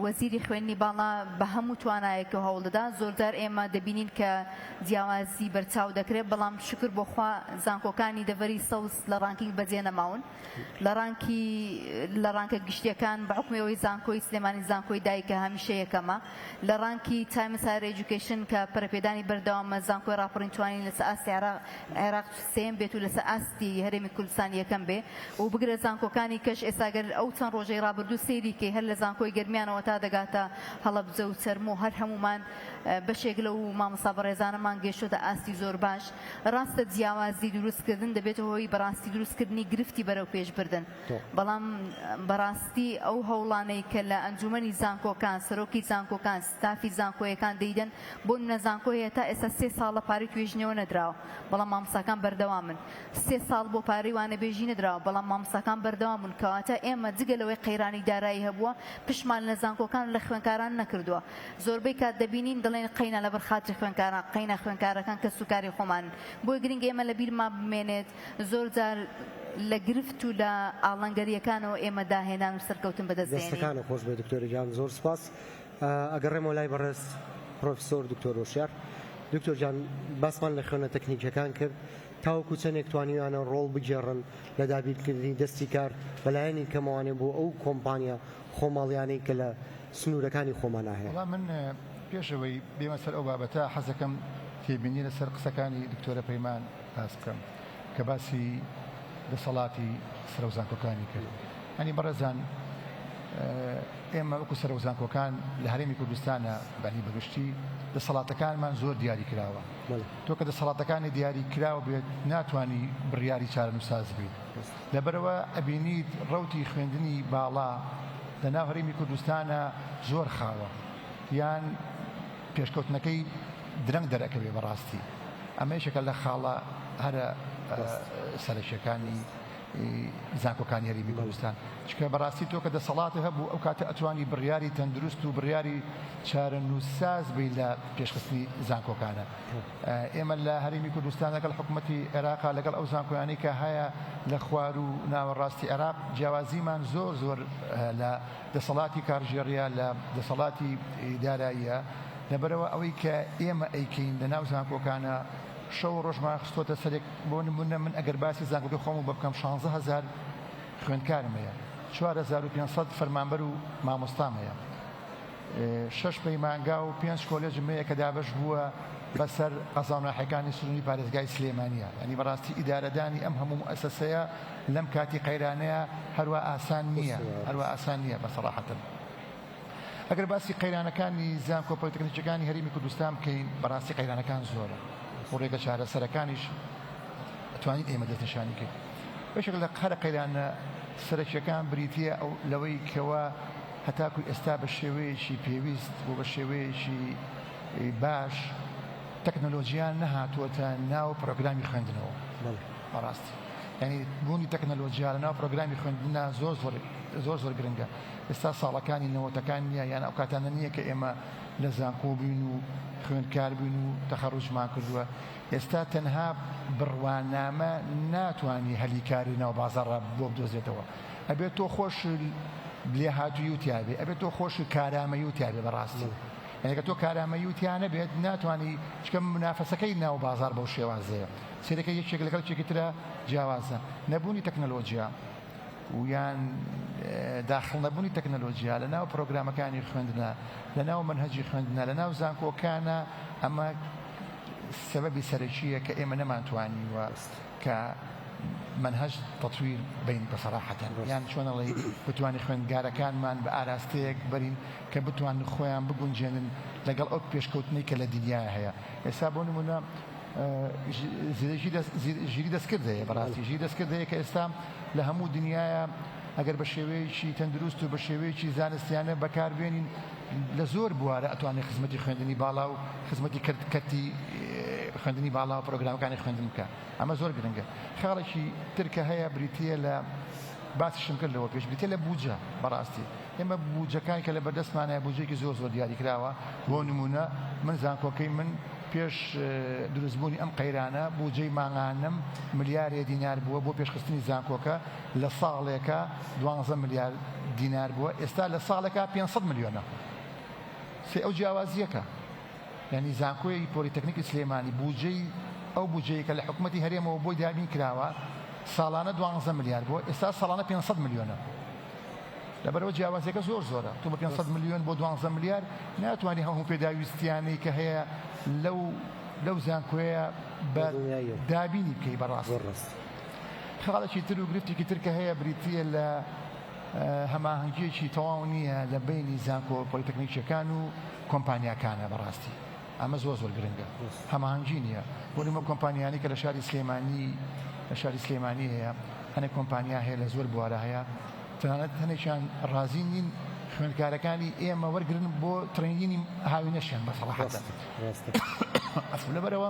وەزیری خوێندنی باڵا بە هەموو توانایەک و هەوڵدەدا زۆرجار ئێمە دەبینین کە جیاوازی بەرچاو دەکرێت بەڵام شکر بۆخوا زانکۆکانی دەڤەری سەوز لە ڕانکینگ بەجێ نەماون لە ڕانکی لە ڕانکە گشتیەکان بە حوکمی ئەوەی زانکۆی سلێمانی زانکۆی دایکە هەمیشە یەکەمە لە ڕانکی تایمس هایر ئێجوکەیشن کە پەرەپێدانی بەردەوامە زانکۆی ڕاپەڕین توانی لەسەر ئاستی عێراق عێراق سێیەم بێت و لەسەر ئاستی هەرێمی کوردستان یەکەم بێ و بگرە زانکۆکانی کەش ئێستا گەر ئەو چەند ڕۆژەی ڕابردوو سەیری کەی هەر لە زانکۆی گەرمیانەوە تا دەگاتە هەڵەبجە و چەرموو هەر هەموومان بەشێک لەو مامۆستا بەڕێزانەمان گەیشتۆتە ئاستی زۆر باش، ڕاستە جیاوازی دروست کردن دەبێتە هۆی بەڕاستی دروست کردنی گرفتی بەرەو پێش بردن، بەڵام بەڕاستی ئەو هەوڵانەی کە لە ئەنجومەنی زانکۆکان، سەرۆکی زانکۆکان، ستافی زانکۆیەکان دەیدەن، بۆ نمونە زانکۆ هەیە تا ئێستا سێ ساڵە پارەی توێژینەوە نەدراوە، بەڵام مامۆستاکان بەردەوامن، سێ ساڵ بۆ پارەی وانەبێژی نەدراوە، بەڵام مامۆستاکان بەردەوام بوون، کەواتە ئێمە جگە لەوەی قەیرانی دارایی هەبووە پشتمان لە زانکۆکان و لە خوێنکاران نەکردووە. زۆربەی کات دەبینین دەڵێن قەینا لەبەر خاتری خوێنکاران قەینا خوێنکارەکان کەس و کاری خۆمانن بۆیە گرنگە ئێمە لە بیرمان بمێنێت زۆر جار لە گرفت و لە ئاڵەنگەریەکانەوە ئێمە داهێنان و سەرکەوتن بەدەست دێنین. دەستەکانت خۆش بێت دکتۆرە گیان زۆر سوپاس ئەگەڕێمەوە لای بەڕێز پڕۆفیسۆر دکتۆر هۆشیار دکتۆر گیان باسمان لە خوێنە تەکنیکیەکان کرد تاوەکو چەندێک توانیویانە ڕۆڵ بگێڕن لە دابینکردنی دەستی کار بە لایەنی کەمەوانێ بۆ ئەو کۆمپانیا خۆماڵیانەی کە لە سنوورەکانی خۆمانا هەیە. بەڵام من پێش ئەوەی بێمە سەر ئەو بابەتە حەز دەکەم تێبینی لە سەر قسەکانی دکتۆرە پەیمان باس بکەم کە باسی دەسەڵاتی سەرۆک زانکۆکانی کرد یانی بەڕێزان ئێمە وەکو سەرۆک زانکۆکان لە هەرێمی کوردستانە بەنی بەگشتی دەسەڵاتەکانمان زۆر دیاری کراوە تۆ کە دەسەڵاتەکانی دیاری کراوە بێت ناتانی بڕیاری چارەنووساز بیت لەبەرئەوە ئەبینیت ڕەوتی خوێندنی باڵا لەناو هەرێمی کوردستانا زۆر خاوە یان پێشکەوتنەکەی درەنگ دەرئەکەوێت بەڕاستی ئەمە یەکێکە لە خاڵە هەرە سەرەکیەکانی زانکۆکانی هەرێمی کوردستان چکە بەڕاستی تۆ کە دەسەڵاتی هەبوو ئەو کاتە ئەتوانی بڕیاری تەندروست و بڕیاری چارەنووسساز بی لە پێشخستنی زانکۆکانە ئێمە لە هەرێمی کوردستان لەگەڵ حکومەتی عێراق لەگەڵ ئەو زانکۆیانەی کە هەیە لە خوار و ناوەڕاستی عێراق جیاوازیمان زۆر زۆر لە دەسەڵاتی کارگێڕیە لە دەسەڵاتی داراییە لەبەرەوە ئەوەی کە ئێمە ئەیکەین لە ناو زانکۆکانە شەو ڕۆژمان خستۆتە سەرێک بۆ نمونە من ئەگەر باسی زانکۆکە خۆم و بەبکەم 16 هزار خوێندکارم هەیە 4500 فەرمانبەر و مامۆستام هەیە شەش پەیمانگا و پێنج کۆلێجم لەیە کە دابەش بووە بە سەر قەزاو ناحیەکانی سنووری پارێزگای سلێمانییە یانی بەڕاستی ئیدارەدانی ئەم هەموو موئەسەسەیە لەم کاتی قەیرانەیە هەروا ئاسان نییە هەروا ئاسان نییە بە سەڕاحەتن ئەگەر باسی قەیرانەکانی زانکۆ پۆلیتەکنیکەکانی هەرێمی کوردستان بکەین بەڕاستی قەیرانەکان زۆرە و ڕێگە چارەسەرەکانیش توانین ئێمە دەستنیشانی کرد بەشێک لە قەرە قەیرانە سەرەکیەکان بریتە ئەو لەوەی کەوە هەتاکو ئێستا بە شێوەیەکی پێویست و بە شێوەیەکی باش تەکنەلۆجیا نەهاتووەتە ناو پرۆگرامی خوێندنەوە. بەڕاستی یانی بوونی تەکنەلۆجیا لە ناو پرۆگرامی خوێندنا زۆر زۆر زۆر زۆر گرنگە ئێستا ساڵەکانی نەوەتەکان نییە یان ئەو کاتانە نییە کە ئێمە لە زانکۆ بووین و خوێندکار بووین و تەخەڕوجمان کردووە ئێستا تەنها بڕوانامە ناتوانانی هەلی کاری ناو بازاڕە بۆ بدۆزێتەوە ئەبێ تۆ خۆش لێهاتوویو تیا بێ ئەبێ تۆ خۆش کارامەیو تیا بێ بەڕاستی یعنی کە تۆ کارامەیو تیا نەبێت ناتوانی چکە منافەسەکەی ناو بازار بەو شێوازەیە سیرەکە یەکێک لەگەڵ چێکی ترە جیاوازە نەبوونی تەکنەلۆجیا ویان داخڵ نەبوونی تەکنەلۆجیا لە ناو پرۆگرامەکانی خوێندنە لە ناو منهجی خوێندنە لە ناو زانکۆکانە ئەمە سەبەبی سەرەکیە کە ئێمە نەمانتوانیوە. کە مەنهەج تەتویر بین بە سەراحەتەن یان چۆن ئەڵێی بتوانین خوێندگارەکانمان بە ئاراستەیەک بەرین کە بتوانن خۆیان بگونجێنن لەگەڵ ئەو پێشکەوتنەی کە لە دنیا هەیە ئێستا بۆ نمونە ژیری دەستکرد هەیە بەڕاستی ژیری دەستکرد هەیە کە ئێستا لە هەموو دنیاە ئەگەر بە شێوەیەکی تەندروست و بە شێوەیەکی زانستیانە بەکاربێنین لە زۆر بوارە ئەتوانێت خزمەتی خوێندنی باڵا و خزمەتی کەرتی خوێندنی باڵا و پرۆگرامەکانی خوێندن بکە ئەمە زۆر گرنگە خاڵێکی ترکە هەیە بریتە لە باسیشم کرد لەوە پێش بریتە لە بوجە بەڕاستی ئێمە بوجەکان کە لە بەردەستمانە بوجێکی زۆر زۆر دیاری کراوە بۆ نمونە من زانکۆکەی من پێش دروستبوونی ئەم قەیرانە بوجەی ماهانەم ملیارێ دینار بووە بۆ پێشخستنی زانکۆکە لە ساڵێکا دوانزە ملیار دینار بووە ئێستا لە ساڵێکا پێنج سەد ملیۆنە سەی ئەو جیاوازیەکە یانی زانکۆی پۆلیتەکنیکی سلێمانی بودجەی ئەو بودجەیە کە لە حکوومەتی هەرێمەوە بۆی دابین کراوە ساڵانە دوانزە ملیار بووە ئێستا ساڵانە پێنج سەد ملیۆنە لەبەرەوە جیاوازیەکە زۆر زۆرە تۆ بە پێنج سەد ملیۆن بۆ دوانزە ملیار ناتوانانی هەموو پێداویستیانەی کە هەیە لەو لەو زانکۆیە بە دابینی بکەی بەڕاست. خاڵێکی تر و گرفتێکی تر کە هەیە بریتییە لە هەماهەنگییەکی تەواو نییە لە بەینی زانکۆ پۆلیتەکنیکییەکان و کۆمپانیاکانە بەڕاستی ئەمە زۆر زۆر گرنگە هەماهەنگی نییە بۆ نموە کۆمپانیانی کە لە شاری سلێمانی لە شاری سلێمانی هەیە هەنێک کۆمپانیا هەیە لە زۆر بوارە هەیە تەنانەت هەنێکیان ڕازی نین خوێندکارەکانی ئێمە وەرگن بۆ ترینینی هاوینەشیان بەسەڵحەت ئەف لەبەرەوە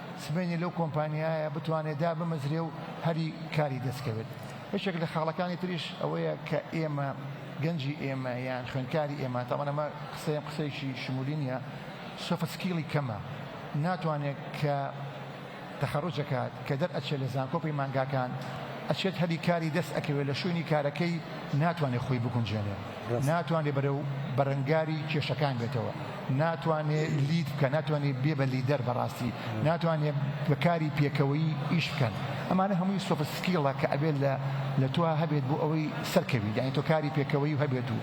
سبەینێ لەو کۆمپانیایە بتوانێت دابمەزرێ و هەلی کاری دەستکەوێت. یەکێک لە خاڵەکانی تریش ئەوەیە کە ئێمە، گەنجی ئێمە یان خوێندکاری ئێمە، تابان ئەمە قسەیەم قسەیەکی شمولی نییە، سۆفت سکیڵی کەمە، ناتوانێت کە تەخەروج ئەکات، کە دەرئەچێت لە زانکۆ و پەیمانگاکان، ئەچێت هەلی کاری دەست ئەکەوێت لە شوێنی کارەکەی ناتوانێت خۆی بگونجێنێت. ناتوانێ بەرەو بەرەنگاری کێشەکان بێتەوە، ناتوانێ لید بکا، ناتوانێ بێ بە لیدەر بەڕاستی، ناتوانێ بە کاری پێکەوەیی ئیش بکەن. ئەمانە هەمووی سۆفت سکیڵە کە ئەبێ لە لە تۆا هەبێت بۆ ئەوەی سەرکەویت، یانی تۆ کاری پێکەوەیی هەبێت و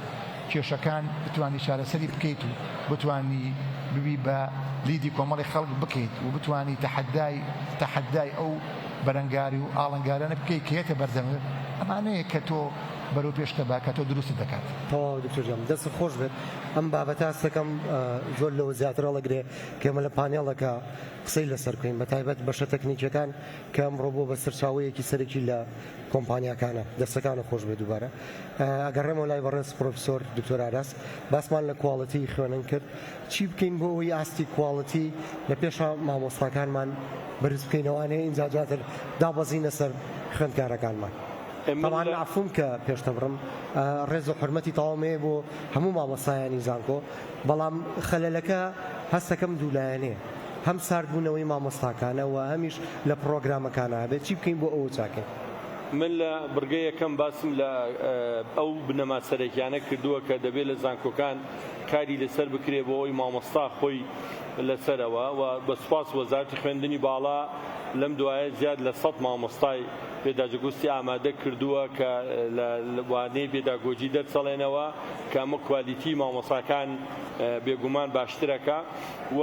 کێشەکان بتوانی چارەسەری بکەیت و بتوانی ببی بە لیدی کۆمەڵێک خەڵک بکەیت و بتوانی تەحەدای تەحەدای ئەو بەرەنگاری و ئاڵنگارانە بکەیت کە یەتە بەردەمت، ئەمانەیە کە تۆ بەرەو پێش تەباکەتەوە دروستت دەکات. تەواوە دکتۆر گیان دەستت خۆش بێت ئەم بابەتە هەستەکەم زۆر لەوە زیاتر هەڵەگرێ کە ئێمە لە پانێڵەکە قسەی لەسەر بکەین بەتایبەت بەشە تەکنیکیەکان کە ئەمڕۆ بووە بە سەرچاوەیەکی سەرەکی لە کۆمپانیاکانە دەستەکانت خۆش بێت دووبارە ئەگەڕێمەوە لای بەڕێز پڕۆفیسۆر دکتۆر ئاراس باسمان لە کواڵیتی خوێنن کرد چی بکەین بۆ ئەوەی ئاستی کواڵیتی لە پێش مامۆستاکانمان بەرز بکەینەوە ئەنێ ئینجا دواتر دابەزینە سەر خوێندکارەکانمان. تەبعەن مەعفووم کە پێشتە بڕم ڕێز و حورمەتی تەواوم هەیە بۆ هەموو مامۆستایانی زانکۆ بەڵام خەلەلەکە هەستەکەم دوو لایەنەیە هەم سارد بوونەوەی مامۆستاکانە وە هەمیش لە پڕۆگرامەکانا ئەبێت چی بکەین بۆ ئەوە چاکەین. من لە بڕگە یەکەم باسم لە ئەو بنەما سەرەکیانە کردووە کە دەبێت لە زانکۆکان کاری لەسەر بکرێت بۆ ئەوەی مامۆستا خۆی لەسەرەوە وە بە سوپاس وەزارەتی خوێندنی باڵا لەم دوایە زیاد لە سەد مامۆستای پێداجگوستی ئامادە کردووە کە لە وانەی پێداگۆجی دەرچەڵێنەوە کە ئەمە کوالیتی مامۆساکان بێگومان باشترەکە و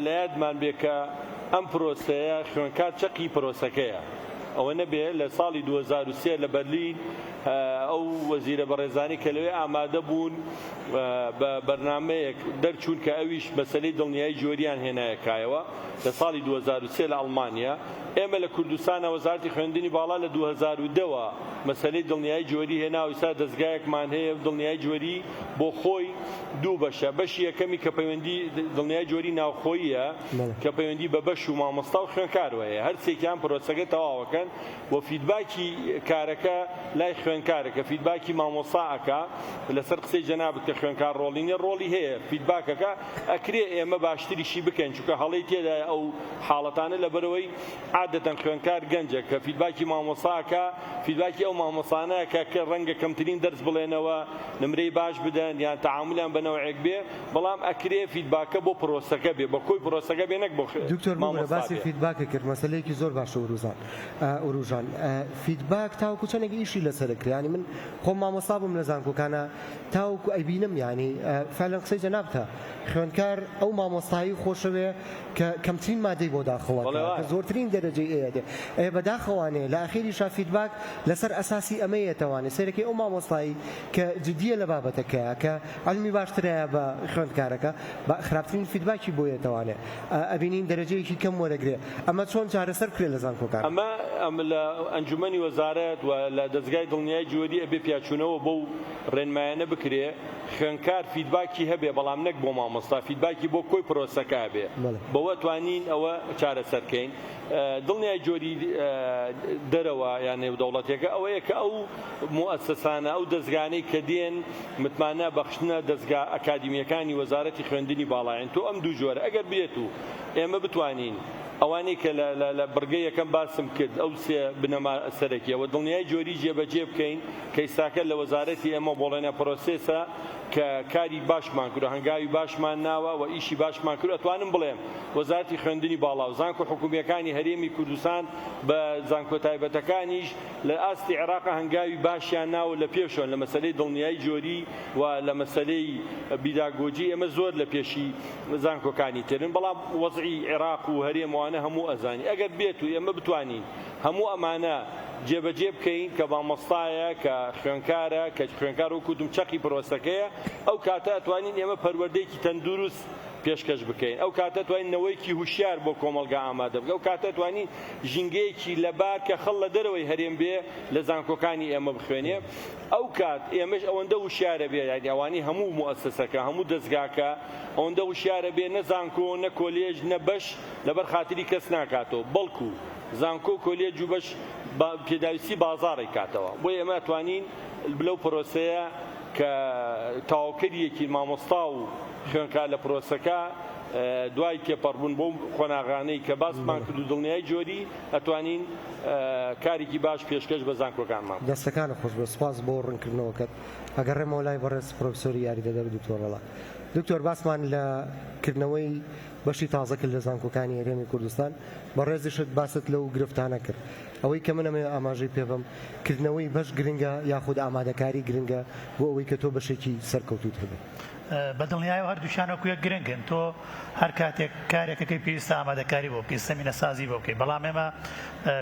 لە یادمان بێ کە ئەم پرۆسەیە خوێنکار چەقی پرۆسەکەیە ئەوە نەبێ لە ساڵی دوو هەزار و سێ لە بەرلین ئەو وەزیرە بەڕێزانەی کە لەوێ ئامادە بوون بە بەرنمەیەک دەرچوون کە ئەویش مەسلەی دڵنیایی جۆریان هێنایە کایەوە لە ساڵی دوو هەزار و سێ لە ئەڵمانیا ئێمە لە کوردستانا وەزارەتی خوێندنی باڵا لە دوو هەزار و دە وە مەسەلەی دڵنیایی جۆری هێناوە ئیستا دەزگایەکمان هەیە و دڵنیایی جۆری بۆ خۆی دوو بەشە بەشی یەکەمی کە پەیوەندی دڵنیایی جۆری ناوخۆییە کە پەیوەندی بە بەش و مامۆستا و خوێنکارەوە هەیە هەر سێکیان پرۆسەکە تەواوەکەن و فیدباکی کارەکە لای خوێنکارە کە فیدباکی مامۆستا ئەکا لەسەر قسەی جەنابت کە خوێنکار ڕۆڵی نیە ڕۆڵی هەیە فیدباکەکە ئەکرێ ئێمە باشتریشی بکەین چونکە هەڵەی تێدایە ئەو حاڵەتانە لەبەرئەوەی عادەتەن خوێندکار گەنجە کە فیدباکی مامۆستا ئەکا فیدباکی ئەو مامۆستانە ئەکا کە ڕەنگە کەمترین دەرس بڵێنەوە نمرەی باش بدەن یان تەعامولیان بە نەوعێک بێ بەڵام ئەکرێ فیدباکە بۆ پرۆسەکە بێ بە کۆی پرۆسەکە بێ نەک بۆ دکتۆر ببورە مامۆستا باسی بێ. فیدباکە کرد مەسەلەیەکی زۆر باشە وروزان وروژان فیدباک تاوەکو چەندێک ئیشی لەسەرە کرا یانی من خۆم مامۆستا بووم لە زانکۆکانا تاوەکو ئەیبینم یانی فەعلەن قسەی جەنابتە خوێندکار ئەو مامۆستایی خۆشەوێ کە کەمترین مادەی بۆ داخڵە کە زۆرترین دەرەجەی ئەیەێ ئەێ بەداخەوانێ لە ئاخێری شا فیدباک لەسەر ئەساسی ئەمەیەتەوانێ سەرەکەی ئەو مامۆستایی کە جدیە لە بابەتەکە کە علمی باشترایە بە خوێندکارەکە بە خراپترین فیدباکی بۆیەتەوانێ ئەبینین دەرەجەیەکی کەم وەرەگرێ ئەمە چۆن چارەسەر بکرێت لە زانکۆکان؟ ئەمە لە ئەنجومەنی وەزارەت و لە دەزگای دڵنیایی جیوەدی ئەبێ پیاچوونەوە بەو ڕێنمایانە بکرێ خوێندکار فیدباکی هەبێ بەڵام نەک بۆ مامۆستا فیدباکی بۆ کۆی پرۆسەکە هەبێ بەوە ئەتوانین ئەوە چارەسەر کەین دڵنیای جۆری دەرەوە یان نێودەوڵەتێکە ئەوەیە کە ئەو موەسەسانە ئەو دەزگانەی کە دێن متمانە بەخشنە دەزگا ئەکادیمیەکانی وەزارەتی خوێندنی باڵاین تۆ ئەم دوو جۆرە ئەگەر بێت و ئێمە بتوانین ئەوانەی کە لە بڕگەی یەکەم باسم کرد ئەو سێ بنەما سەرەکیە وە دڵنیای جۆری جێبەجێ بکەین کە ئیستاکە لە وەزارەتی ئێمە بۆڵێنە پرۆسێسە کە کاری باشمان کردوە هەنگاوی باشمان ناوە وە ئیشی باشمان کرد ئەتوانم بڵێم وەزارەتی خوێندنی باڵاو زانکۆ حکومیەکانی هەرێمی کوردستان بە زانکۆ تایبەتەکانیش لە ئاستی عێراق هەنگاوی باشیان ناوە لە پێشۆن لە مەسەلەی دڵنیای جۆری و لە مەسەلەی بیداگۆجی ئێمە زۆر لە پێشی زانکۆکانی ترن بەڵام وەزعی عێراق و هەرێم وانە هەموو ئەزانی ئەگەر بێت و ئێمە بتوانین هەموو ئەمانە جێبەجێ بکەین کە مامۆستایە کە خوێنکارە کە خوێنکار وکوتم چەقی پرۆسەکەیە ئەو کاتە ئەتوانین ئێمە پەروەردەیەکی تەندروست پێشکەش بکەین ئەو کاتە توانین نەوەیەکی هوشیار بۆ کۆمەلگا ئامادە بکە ئەو کاتە توانین ژینگەیەکی لەبار کە خەڵ لە دەرەوەی هەرێم بێ لە زانکۆکانی ئێمە بخوێنێ ئەو کات ئێمەش ئەوەندە وشیارە بێ یانی ئەوانی هەموو موئەسەسەکە هەموو دەزگاکە ئەوەندە وشیارە بێ نە زانکۆ نە کۆلێژ نە بەش لەبەر خاتری کەس ناکاتەوە بەڵکو زانکۆ و کۆلێج و بەش با پێداویستی بازاڕی کاتەوە بۆیە ئێمە ئەتوانین لەو پرۆسەیە کە تەواوکەریەکی مامۆستا و خوێنکار لە پرۆسەکە دوای تێپەڕبوون بەو قۆناغانەی کە باسمان کرد و دڵنیای جۆری ئەتوانین کاریکی باش پێشکەش بە زانکۆکان مام. دەستەکانت خۆشبێت سوپاس بۆ ڕونکردنەوەکەت ئەگەڕێمەوە لای بەڕێز پڕۆفیسۆری یاریدەدەر دکتۆر ڕەڵا دکتۆر باسمان لە کردنەوەی بەشی تازە کرد لە زانکۆکانی هەرێمی کوردستان بەڕێزیشت باست لەو گرفتانە کرد ئەوەی کە من ئەمەوێ ئاماژەی پێبەم کردنەوەی بەش گرنگە یاخود ئامادەکاری گرنگە بۆ ئەوەی کە تۆ بەشێکی سەرکەوتووت هەبێت. بە دڵنیایەوە هەردووکیان وەکو یەک گرنگن، تۆ هەر کاتێک کارێک ئەکەی پێویستە ئامادەکاری بۆ بکەیت، زەمینەسازی بۆ بکەیت، بەڵام ئێمە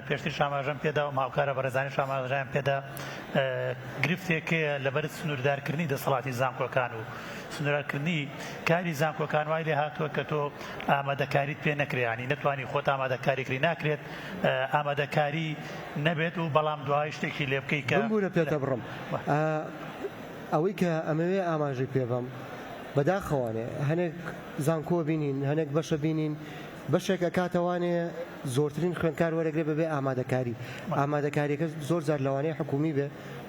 پێشتریش ئاماژەم پێدا و هاوکارە بەڕێزانیش ئاماژەیان پێدا گرفتێک هەیە لەبەر سنووردارکردنی دەسەڵاتی زانکۆکان و سنوورکردنی کاری زانکۆکان وای لێ هاتووە کە تۆ ئامادەکاریت پێ نەکریانی نەتوانی خۆت ئامادەکاری کری ناکرێت ئامادەکاری نەبێت و بەڵام دوای شتێکی لێ بکەیت کە بمبوورە پێتە بڕم. ئەوەی کە ئەمەوێ ئاماژەی پێ بەم، بەداخەوانێ هەنێک زانکۆ بینین، هەنێک بەشە بینین، بەشێک ئەکاتە وانێ زۆرترین خوێندکار وەرەگرێ بەبێ ئامادەکاری، ئامادەکاریەکە زۆر جار لەوانەیە حکوومی بێ،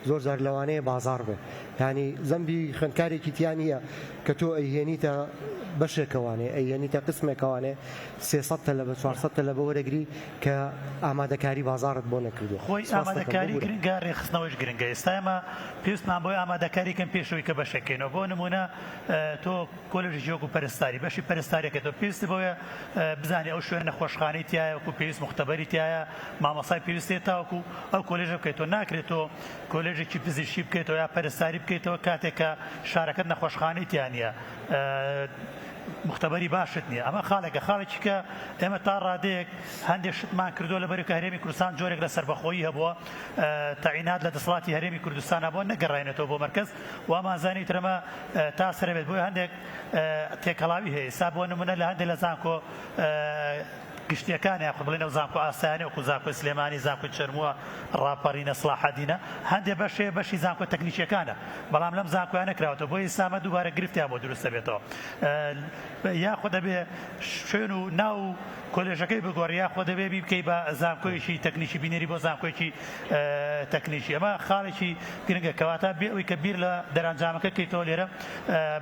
زۆر جار لەوانەیە بازاڕ بێ، یانی زەمبی خوێندکارێکی تیا نییە کە تۆ ئەیهێنیتە بەشێکەوانێ، ئەیهێنیتە قسمێکەوانێ سێ سەد تەلەبە، چوار سەد تەلەبە وەرەگری، کە ئامادەکاری بازاڕت بۆ نەکردووە. خۆی ئامادەکاری گرنگە، رێکخستنەوەیش گرنگە. ئێستا ئێمە پێویستمان بەوەیە ئامادەکاری بکەین پێش ئەوەی کە بەشێک کەینەوە. بۆ نموونە تۆ کۆلێژێکی وەکو پەرستاری، بەشی پەرستارییەکەی تۆ پێویستت بەوەیە بزانی ئەو شوێنە نەخۆشخانەی تیایە وەکو پێویست، موختەبەری تیایە، مامۆستای پێویست هەیە تاوەکو ئەو کۆلێژە بکەیتەوە. ناکرێت تۆ کۆلێژێکی پزیشکی بکەیتەوە یا پەرستاری بکەیتەوە کاتێک کە شارەکەت نەخۆشخانەی تیا نییە. مختبری باشت نیە ئەمە خاڵێکە خاڵێکی کە ئێمە تا ڕادەیەک هەندێک شتمان کردو لە بەرکە هەرێمی کوردستان جۆرێک لە سربەخۆیی هەبووە تەعینات لە دەسڵاتی هەرێمی کوردستان بۆ نەگەڕێنێتەوە بۆ مەرکز وامانزانی ترەمە تا سرەبێت بۆی هەندێک تێکەڵاوی هەیە سا بۆ نمونە لە هەندێک لە زانکۆ گشتیەکان یاخود بڵێن ئەو زانکۆ ئاسایانەی وەکو زانکۆی سلێمانی، زانکۆی چەرمووە، ڕاپەڕینە، سڵاحەدینە، هەندێ بەشێ بەشی زانکۆ تەکنیکیەکانە بەڵام لەم زانکۆیانە کراوەتەوە بۆیە ئیستا ئەمە دووبارە گرفتیان بۆ دروست دەبێتەوە یاخود ئەبێ شوێن و ناو و کۆلێژەکەی بگۆڕی یاخۆ دەبێ بیبکەی بە زانکۆیەکی تەکنیکی بینێری بۆ زانکۆیەکی تەکنیکی ئەمە خاڵێکی گرنگە کەواتە بێ ئەوی کە بیر لە دەرەنجامەکە کەیتەوە لێرە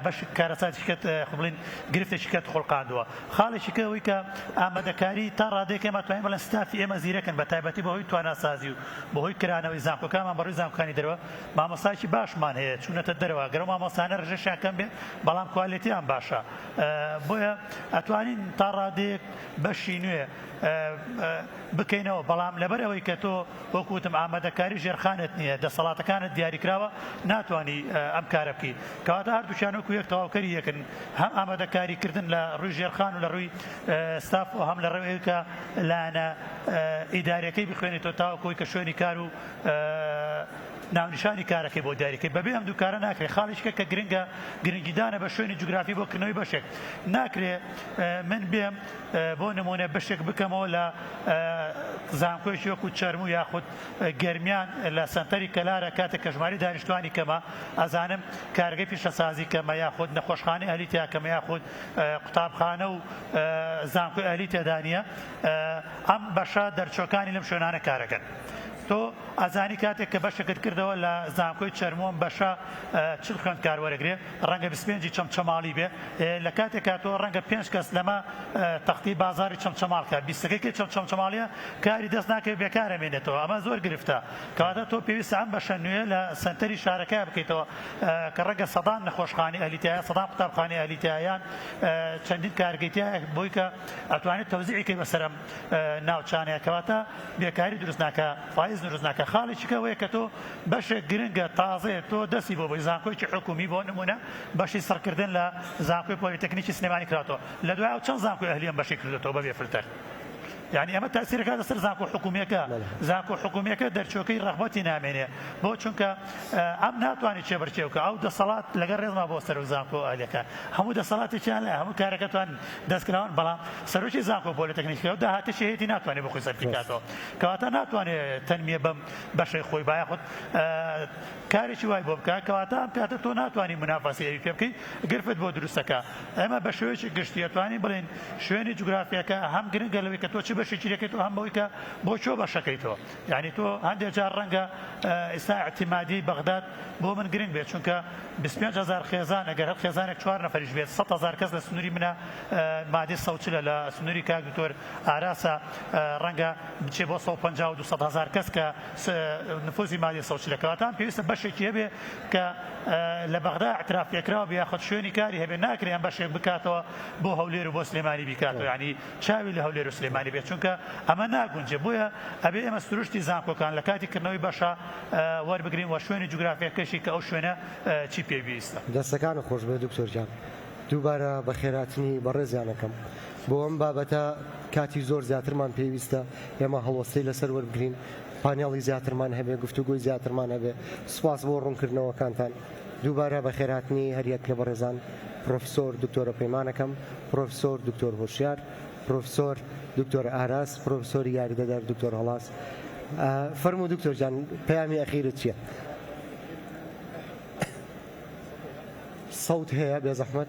بەش کارەساتیکەت خبڵین گرفتێکیکەت خوڵقاندووە خاڵێکی کە ئەوەی کە ئامادەکاری تا ڕادەیەک ئێمە توانین بڵێن ستافی ئێمە زیرەکن بە تایبەتی بەهۆی تواناسازی و بەهۆی کرانەوەی زانکۆکانمان بەڕووی زانکۆکانی دەرەوە مامۆستایەکی باشمان هەیە چوونەتە دەرەوە گەر ئەو مامۆستایانە ڕژێشیان کەم بێت بەڵام کوالێتیان باشە بۆیە ئەتوانین تا ڕادەیەک بەشی نوێ بکەینەوە بەڵام لەبەر ئەوەی کە تۆ وەکو وتم ئامادەکاری ژێرخانت نییە دەسەڵاتەکانت دیاریکراوە ناتوانی ئەم کارە بکەی کەواتە هەردووکیان وەکو یەک تەواوکەری یەکن هەم ئامادەکاری کردن لە ڕووی ژێرخان و لە ڕووی ستاف و هەم لە ڕێ ئەوکە لایەنە ئیدارەکەی بخوێنی تۆ تاوەکەوەی کە شوێنی کار و ناونیشانی کارەکەی بۆ دیاریکەی بەبێ ئەم دووکارە ناکرێت خاڵیشکە کە گرنگە گرنگیدانە بە شوێنی جوگرافی بۆ کردنەوەی بەشێک ناکرێ من بێم بۆ نموونە بەشێک بکەمەوە لە زانکۆیەکی وەکو چەرموو یاخود گەرمیان لە سەنتەری کەلارە کاتێک کە ژماری دانیشتوانی کەمە ئەزانم کارگەی پیشەسازی کەمە یاخود نەخۆشخانەی ئەهلی تیا کەمە یاخود قوتابخانە و زانکۆی ئەهلی تێدا نییە ئەم بەشە دەرچوەکانی لەم شوێنانە کارەکەن. تۆ ئەزانی کاتێک کە بەشەکەت کردەوە لە زانکۆی چەرمۆم بەشە چل خوێندکار وەرەگرێ ڕەنگە بیست پێنج ی چەمچەماڵی بێ لە کاتێکا تۆ ڕەنگە پێنج کەس لەمە تەختی بازاری چەمچەماڵ کە بیست ەکەی کەی چەمچەماڵیە کاری دەست ناکەی بێکارە مێنێتەوە ئەمە زۆر گرفتە کەواتە تۆ پێویستە ئەم بەشە نوێ لە سەنتەری شارەکە بکەیتەوە کە ڕەنگە سەدان نەخۆشخانەی ئەهلی تیایە سەدان قوتابخانەی ئەهلی تیایە یان چەندین کارگەی تیایە بۆی کە ئەتوانێت تەوزیعی کەی بەسەر ئەم ناوچانەیە کەواتە بێکاری دروست ناکا فایز دروست ناکا خاڵێکیکە ئەوەیە کە تۆ بەشێک گرنگە تازەیە تۆ دەستی بۆ بۆی زانکۆیکی حکومی بۆ نمونە بەشی سڕکردن لە زانکۆی پۆلیتەکنیکی سلێمانی کراتەوە لە دوای ئەو چەند زانکۆی ئەهلیەم بەشی کردێتەوە بەبێ فلتەر یعنی ئەمە تاسیرەکە لەسەر زانکۆ حکومیەکە زانکۆ حکومیەکە دەرچۆکەی ڕغبەتی نامێنێ بۆ چونکە ئەم ناتوانانی چێبەرچێوکە ئەو دەسەڵات لەگە ڕێزما بۆ سەر و زانکۆ ئالەکان هەموو دەسەڵاتێکیان لە هەموو کارەکەتوان دەستکراون، بەڵام سەرۆکی زانکۆ پۆلیتەکنیکی و داهاتیشی هەیەتی ناتوانێت بۆ خۆی سەرفی بکاتەوە، کەواتە ناتوانێت تەنمیە بەم بەشەی خۆی با یاخود کارێکی وای بۆ بکات، کەواتە ئەم کاتە تۆ ناتوانی منافەسەی ئەوی پێ بکەی، گرفت بۆ دروست دەکا. ئێمە بە شێوەیەکی گشتی ئەتوانین بڵێین شوێنی جوگرافیاکە هەم گرنگە لەوەی کە تۆ چ بەشێکی لێ کەیتەوە هەم بەوەی کە بۆ کۆ بەشەکەیتەوە. یانی تۆ هەندێ جار ڕەنگە ئیستا ئیعتیمادی بەغداد بۆ من گرنگ بێت چونکە بیست و پێنج هەزار خێزان ئەگەر هەر خێزانێک چوار نەفەریش بێت سەد هەزار کەس لە سنوری منە مادی سەد و چلە لە سنوری کاک دکتۆر ئاراسە ڕەنگە بچێ بۆ سەد و پەنجا و دوو سەد هەزار کەس کە نفوزی مادی سەد و چلە کەواتە پێویستە بەشێکی هەبێ کە لە بەغدا اعتراف پێکراو بێ یاخود شوێنی کاری هەبێ ناکرێ ئەم بەشێک بکاتەوە بۆ هەولێر و بۆ سلێمانی بیکاتەوە یانی چاوی لە هەولێرو سلێمانی بێت چونکە ئەمە ناگونجێ بۆیە ئەبێ ئێمە سروشتی زانکۆکان لە کاتی کردنەوەی بەشە وەربگرین وە شوێنی جوگرافیەکەشی کە ئەو شوێنە چی پێویستە. دەستەکانت خۆشبێت دکتۆر گیان دووبارە بەخێرهاتنی بەڕێزیان ئەکەم بۆ ئەم بابەتە کاتی زۆر زیاترمان پێویستە ئێمە هەڵوەستەی لەسەر وەربگرین پانێڵی زیاترمان هەبێ گفتوگۆی زیاترمان هەبێ سوپاس بۆ ڕونکردنەوەکانتان. دووبارە بەخێرهاتنی هەریەک لە بەڕێزان پڕۆفیسۆر دکتۆرە پەیمانەکەم، پڕۆفیسۆر دکتۆر هۆشیار، پڕۆفیسۆر دکتۆر ئاراس، پڕۆفیسۆری یاریدەدەر دکتۆر هەڵاس. فەرموو دکتۆر گیان پەیامی ئەخیرت چییە؟ سەوت هەیە بێزەحمەت؟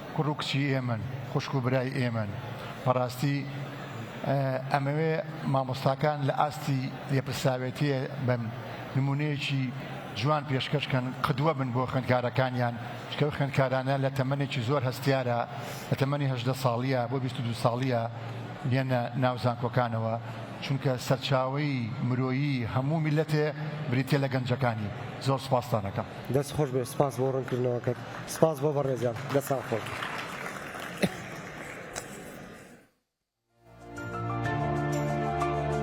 کوڕ و کچی ئێمەن، خوشک و برای ئێمەن، بەڕاستی ئەمەوێ مامۆستاکان لە ئاستی لێپرسراوێتییە بن، نموونەیەکی جوان پێشکەش کەن، قدوە بن بۆ خوێندکارەکانیان، چونکە ئەو خوێندکارانە لە تەمەنێکی زۆر هەستیارە، لە تەمەنی هەژدە ساڵییە بۆ بیست و دوو ساڵییە بێنە ناو زانکۆکانەوە، چونکە سەرچاوەی مرۆیی هەموو میللەتێ بریتییە لە گەنجەکانی. زۆر سوپاستان ئەکەم. دەست خۆش بێت سپاس بۆ ڕونکردنەوەکەت. سپاس بۆ بەڕێزان دەست ساغ خۆش.